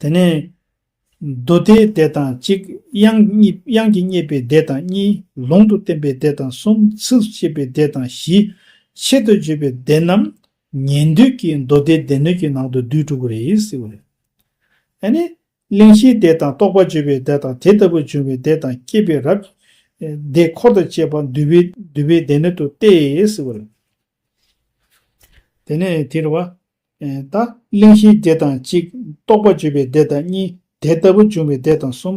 དེ་ནས། རྡོ་རྗེའི་སྡེ་དང་གཅིག། དབྱངས་ཀྱིས་བསྙད་པའི་སྡེ་དང་གཉིས། ལུང་དུ་བསྟན་པའི་སྡེ་དང་གསུམ། ཚིགས་སུ་བཅད་པའི་སྡེ་དང་བཞི། ཆེད་དུ་བརྗོད་པའི་སྡེ་རྣམས། ཉན་ཐོས་ཀྱི་མདོ་སྡེའི་སྡེ་སྣོད་ཀྱི་ནང་དུ་བསྡུས་གྲུབ་པ་རེད། ཨ་ནི། གླེང་གཞིའི་སྡེ་དང་རྟོགས་པ་བརྗོད་པའི་སྡེ་དང་དེ་ལྟ་བུ་འབྱུང་བའི་སྡེ་དང་སྐྱེས་པའི་རབས་ཀྱི་སྡེ་འཁོར་དང་བཅས་པ་འདུས་པའི་སྡེ་སྣོད་དུ་སྟེ། དེ་ནས་དེར་བ། ལྟ། གླེང་གཞིའི་སྡེ་དང་གཅིག། རྟོག་པ་བརྗོད་པའི་སྡེ་དང་གཉིས། དེ་ལྟ་བུ་འབྱུང་བའི་སྡེ་དང་གསུམ།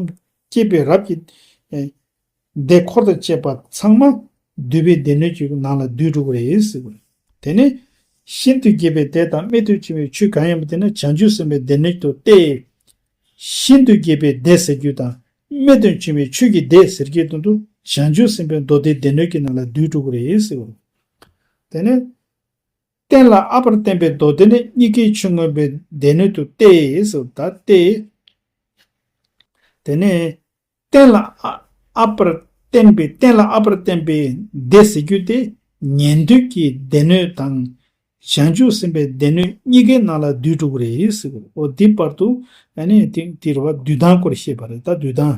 སྐྱེས་པའི་རབས་ཀྱི། སྡེ་འཁོར་དང་བཅས་པ་ཚང་མ། བསྡུས་པའི་སྡེ་སྣོད་ཀྱི་ནང་ལ་བསྡུས་འགྲོ་བ་རེད། དེ་ནས། ཤིན་ཏུ་རྒྱས་པའི་སྡེ་དང་རྨད་དུ་བྱུང་བའི་ཆོས་གང་ཡིན་པ་དེ་ནི་བྱང་ཆུབ་སེམས་དཔའི་སྡེ་སྣོད་དུ་སྟེ། ཤིན་ཏུ་རྒྱས་པའི་སྡེ་ཟེར་རྒྱུ་དང། རྨད་དུ་བྱུང་བའི་ཆོས་ཀྱི་སྡེ་ཟེར་རྒྱུའི་དོན་དུ་བྱང་ཆུབ་སེམས་དཔའི་མདོ་སྡེའི་སྡེ་སྣོད་ཀྱི་ནང་ལ་བསྡུས་འགྲོ་བ་རེད། དེ་ནས། བསྟན་ལ་ཨ་བར་བསྟན་པའི་མདོ་སྡེ་ནི་གཉིས་ཀའི་ཆུ་མངོན་པའི་སྡེ་སྣོད་དུ་སྟེ་སོ་ད་སྟེ། དེ་ནས། བསྟན་ལ་ཨ་བར་བསྟན་པའི་བསྟན་ལ་ཨ་བར་བསྟན་པའི་སྡེ་ཟེར་རྒྱུ་དེ་ཉན་ཐོས་ཀྱི་སྡེ་སྣོད་དང། བྱང་ཆུབ་སེམས་དཔའི་སྡེ་སྣོད་གཉིས་ཀའི་ནང་ལ་བསྡུས་དྲུག་རེད། འོ་དེའི་བར་དུ། དེ་རུ་བ་བསྡུས་དང་སྐོར་བཤད་པ་རེད་ད་བསྡུས་དང།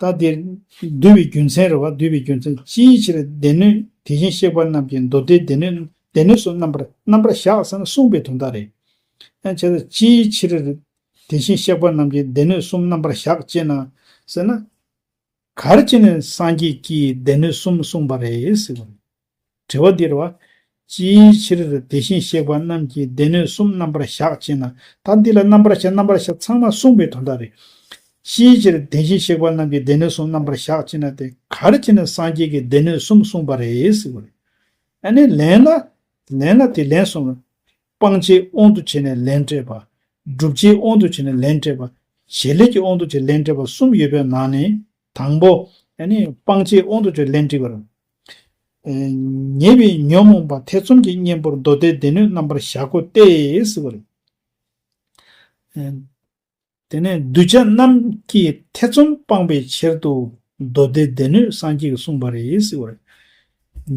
ལྟ་དེ། འདུལ་བའི་རྒྱུ་མཚན་རེ་བ་འདུལ་བའི་རྒྱུ་མཚན་ཅིའི་ཕྱིར་སྡེ་སྣོད་དེ་བཞིན་གཤེགས་པ་རྣམས་ཀྱི་མདོ་སྡེའི་སྡེ་སྣོད་སྡེ་སྣོད་སོགས་རྣམ་པར་རྣམ་པར་གཞག་ཟིན་ལ་གསུངས་པའི་དོན་དག་རེ་ཡང་བྱས་ལ་ཅིའི་ཕྱིར་དེ་བཞིན་གཤེགས་པ་རྣམས་ཀྱི་སྡེ་སྣོད་གསུམ་རྣམ་པར་གཞག་ཅེ་ན། ཟེར་ན། གར་བྱེད་ནས་སངས་རྒྱས་ཀྱིས་སྡེ་སྣོད་གསུམ་གསུངས་པ་རེད། དྲི་བ། འདིར་བ། ཅིའི་ཕྱིར་དེ་བཞིན་གཤེགས་པ་རྣམས་ཀྱིས་སྡེ་སྣོད་གསུམ་རྣམ་པར་གཞག་ཅེ་ན། ད་འདི་ལ་རྣམ་པར་གཞག་རྣམ་པར་གཞག་ཚང་མ་གསུངས་པའི་དོན་དག་རེད། ཅིའི་ཕྱིར་དེ་བཞིན་གཤེགས་པ་རྣམས་ཀྱིས་སྡེ་སྣོད་གསུམ་རྣམ་པར་གཞག་ཅེ་ན་དེ་གར་ཅེ་ན་སངས་རྒྱས་ཀྱིས་སྡེ་སྣོད་གསུམ་གསུངས་པ་རེད་ཟེར་བ་རེད། ཨ་ནི་ལན་ལ། ལན་ལ་དེ་ལན་གསུམ་རེད། སྤང་བྱའི་དབང་དུ་བྱས་ནས་ལན་སྤྲད་པ། བསྒྲུབ་བྱའི་དབང་དུ་བྱས་ནས་ལན་སྤྲད་པ། བྱེད་ལས་ཀྱི་དབང་དུ་བྱས་ལན་སྤྲད་པ་གསུམ་ཡོད་པའི་ནང་ནས། དང་པོ་ནི། སྤང་བྱའི་དབང་དུ་བྱས་ལན་དྲིས་པར། ཉེས་པའི་ཉོན་མོངས་པ་ཐེ་ཚོམ་གྱི་གཉེན་པོར་མདོ་སྡེའི་སྡེ་སྣོད་རྣམ་པར་གཞག་གོ་སྟེ། དེ་ནས་གདུལ་བྱ་རྣམས་ཀྱི་ཐེ་ཚོམ་སྤང་པའི་ཕྱིར་དུ་མདོ་སྡེའི་སྡེ་སྣོད་སངས་རྒྱས་ཀྱིས་གསུངས་པ་རེད།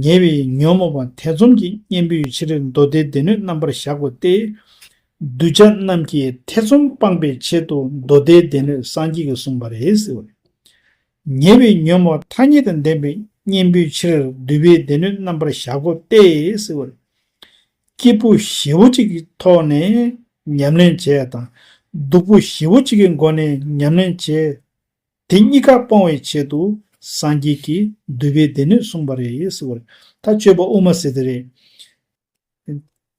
ཉེས་པའི་ཉོན་མོངས་པ་ཐེ་ཚོམ་གྱི་གཉེན་པོའི་ཕྱིར་མདོ་སྡེའི་སྡེ་སྣོད་རྣམ་པར་གཞག་གོ་སྟེ། གདུལ་བྱ་རྣམས་ཀྱི་ཐེ་ཚོམ་སྤངས་པའི་ཆེད་དུ་མདོ་སྡེའི་སྡེ་སྣོད་སངས་རྒྱས་ཀྱིས་གསུངས་པ་རེད་ཟེར་བ་རེད། ཉེ་བའི་ཉོན་མོངས་མཐའ་གཉིས་དང་ལྡན་པའི་གཉེན་པོའི་ཕྱིར་བསྡུས་པའི་སྡེ་སྣོད་རྣམ་པར་གཞག་གོ་སྟེ་ཟེར་བ་རེད། སྐྱིད་པོ་བཞི་བོ་གཅིག་གི་ཐོག་ནས་ཉམས་ལེན་བྱས་དང། སྡུག་པོ་བཞི་བོ་གཅིག་གི་སྒོ་ནས་ཉམས་ལེན་བྱས། དེ་གཉིས་ཀ་སྤོང་བའི་ཆེད་དུ་སངས་རྒྱས་ཀྱིས་བསྡུས་པའི་སྡེ་སྣོད་གསུངས་པ་རེད་ཟེར་བ་རེད། ད་སྤྱོད་པ་དབུ་མ་སྲིད་རེད།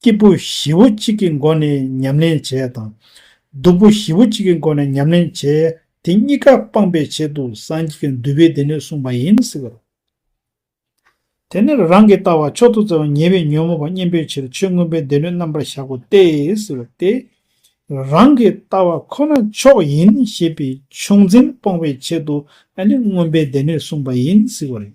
སྐྱིད་པོ་བཞི་བོ་གཅིག་གི་སྒོ་ནས་ཉམས་ལེན་བྱས་དང། སྡུག་པོ་བཞི་བོ་གཅིག་གི་སྒོ་ནས་ཉམས་ལེན་བྱས་དེ་གཉིས་ཀ་སྤངས་པའི་ཆེད་དུ་སངས་རྒྱས་ཀྱི་འདུལ་བས་དེ་ནས་གསུངས་པ་ཡིན་ཟེར་བ་དང། དེ་ནས་རང་གི་ལྟ་བ་མཆོག་ཏུ་བཙལ་བ་ཉེ་བའི་ཉོན་མོངས་པ་གཉེན་པོའི་ཕྱིར་ཆོས་མངོན་པའི་སྡེ་སྣོད་རྣམ་པར་གཞག་གོ་སྟེ་ཟེར་བ་སྟེ། རང་གི་ལྟ་བ་ཁོ་ན་མཆོག་ཡིན་ཞེས་པའི་ཕྱོགས་འཛིན་སྤོང་བའི་ཆེད་དུ་ནི་མངོན་པའི་སྡེ་སྣོད་གསུངས་པ་ཡིན་ཟེར་བ་རེད།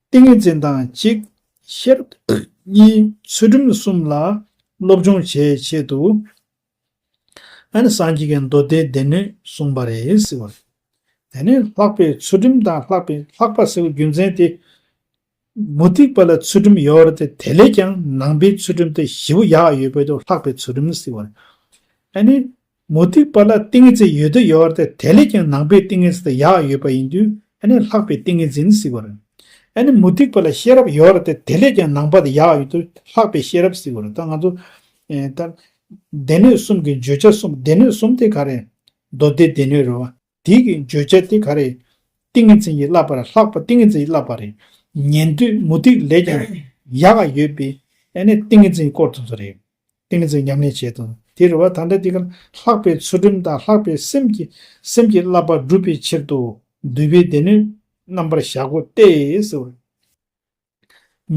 ཏིང་ངེ་འཛིན་དང་གཅིག། ཤེར་གཉིས་ཚུལ་ཁྲིམས་གསུམ་ལ་སློབ་སྦྱོང་བྱེད་ཆེད་དུ། ཨ་ནི་སངས་རྒྱས་ཀྱི་མདོ་སྡེའི་སྡེ་སྣོད་གསུངས་པ་རེད། དེ་ནས་ལྷག་པའི་ཚུལ་ཁྲིམས་དང་ལྷག་པའི་ལྷག་པ་ཟེར་བའི་རྒྱུ་མཚན་དེ། མུ་སྟེགས་པ་ལ་ཚུལ་ཁྲིམས་ཡོད་དེ་དེ་ལས་ཀྱང་ནང་པའི་ཚུལ་ཁྲིམས་དེ་བཞི་པོ་ཡག་ཡོད་པས་དུ་ལྷག་པའི་ཚུལ་ཁྲིམས་ཟེར་བ་རེད། ཨ་ནི། མུ་ཏིག་པ་ལ་ཏིང་ངེ་འཛིན་ཡོད་དོ་ཡོད་བར་ཐལ། དེ་ལས་ཀྱང་ནང་པའི་ཏིང་ངེ་འཛིན་དེ་ཡག་ཡོད་པ་ཡིན་དུས་ཨ་ནི་ལྷག་པའི་ཏིང་ངེ་འཛིན་ནི་བསིལ་བ་རེད། ཨ་ནི་མུ་ཏིག་པ་ལ་ཤེས་རབ་ཡོད་བར་ཐལ་དེ་ལས་ཀྱང་ནང་པ་དེ་ཡག་ཡོད་དུས་ལྷག་པའི་ཤེས་རབ་བསིལ་བ་རེད་ད་ང་ཚོ། ད། སྡེ་སྣོད་གསུམ་གྱི་བརྗོད་བྱ་གསུམ་སྡེ་སྣོད་གསུམ་དེ་ག་རེད། མདོ་སྡེ་སྡེ་སྣོད་རེད་བ། དེ་གི་བརྗོད་བྱ་དེ་ག་རེད། ཏིང་ངེ་འཛིན་གྱི་བསླབ་པར་ལྷག་པ་ཏིང་ངེ་འཛིན་གྱི་བསླབ་པ་རེད། ཉན་ཐོས་མུ་སྟེགས་ལས་ཀྱང་ཡག་ག་ཡོད་པས་ཨེ་ནས་ཏིང་ངེ་འཛིན་གྱི་སྐོར་དུ་ཚོ་རེད། ཏིང་ངེ་འཛིན་ཉམས་ལེན་བྱེད་དོ། དེ་རེ་བ་ད་འདྲ་དེ་ག་ལྷག་པའི་ཚུལ་ཁྲིམས་དང་ལྷག་པའི་སེམས་ཀྱི་སེམས་ཀྱི་བསླབ་པ་བསྒྲུབ་པའི་ཕྱིར་དུ་འདུལ་བའི་སྡེ་སྣོད་རྣམ་པར་གཞག་གོ་སྟེ།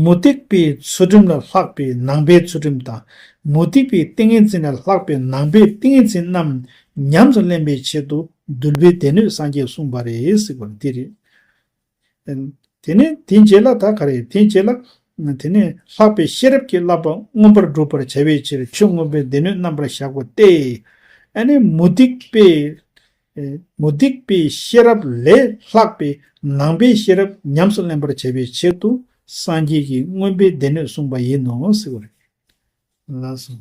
མུ་སྟེགས་པའི་ཚུལ་ཁྲིམས་ལ་ལྷག་པའི་ནང་པའི་ཚུལ་ཁྲིམས་དང། མུ་སྟེགས་པའི་ཏིང་ངེ་འཛིན་ལ་ལྷག་པའི་ནང་པའི་ཏིང་ངེ་འཛིན་རྣམས་ཉམས་སུ་ལེན་པའི་ཆེད་དུ་འདུལ་བའི་སྡེ་སྣོད་སངས་རྒྱས་གསུངས་པ་རེད་ཟེར་བ་འདི་རེད། དེ་ནས་དེའི་རྗེས་ལ་ད་ག་རེད་དེའི་རྗེས་ལ། དེ་ནས་ལྷག་པའི་ཤེས་རབ་ཀྱིས་བསླབ་པ་མངོན་པར་བསྒྲུབ་པར་བྱ་བའི་ཕྱིར་ཆོས་མངོན་པའི་སྡེ་སྣོད་རྣམ་པར་གཞག་པ་སྟེ། ཨ་ནི་མུ་སྟེགས་པའི་མུ་སྟེགས་པའི་ཤེས་རབ་ལས་ལྷག་པའི་ནང་པའི་ཤེས་རབ་ཉམས་སུ་ལེན་པར་བྱ་བའི་ཕྱིར་དུ་སངས་རྒྱས་ཀྱི་དངོས་པོའི་སྡེ་སྣོད་གསུངས་པ་ཡིན་ནོ་ཟེར་བ་རེད།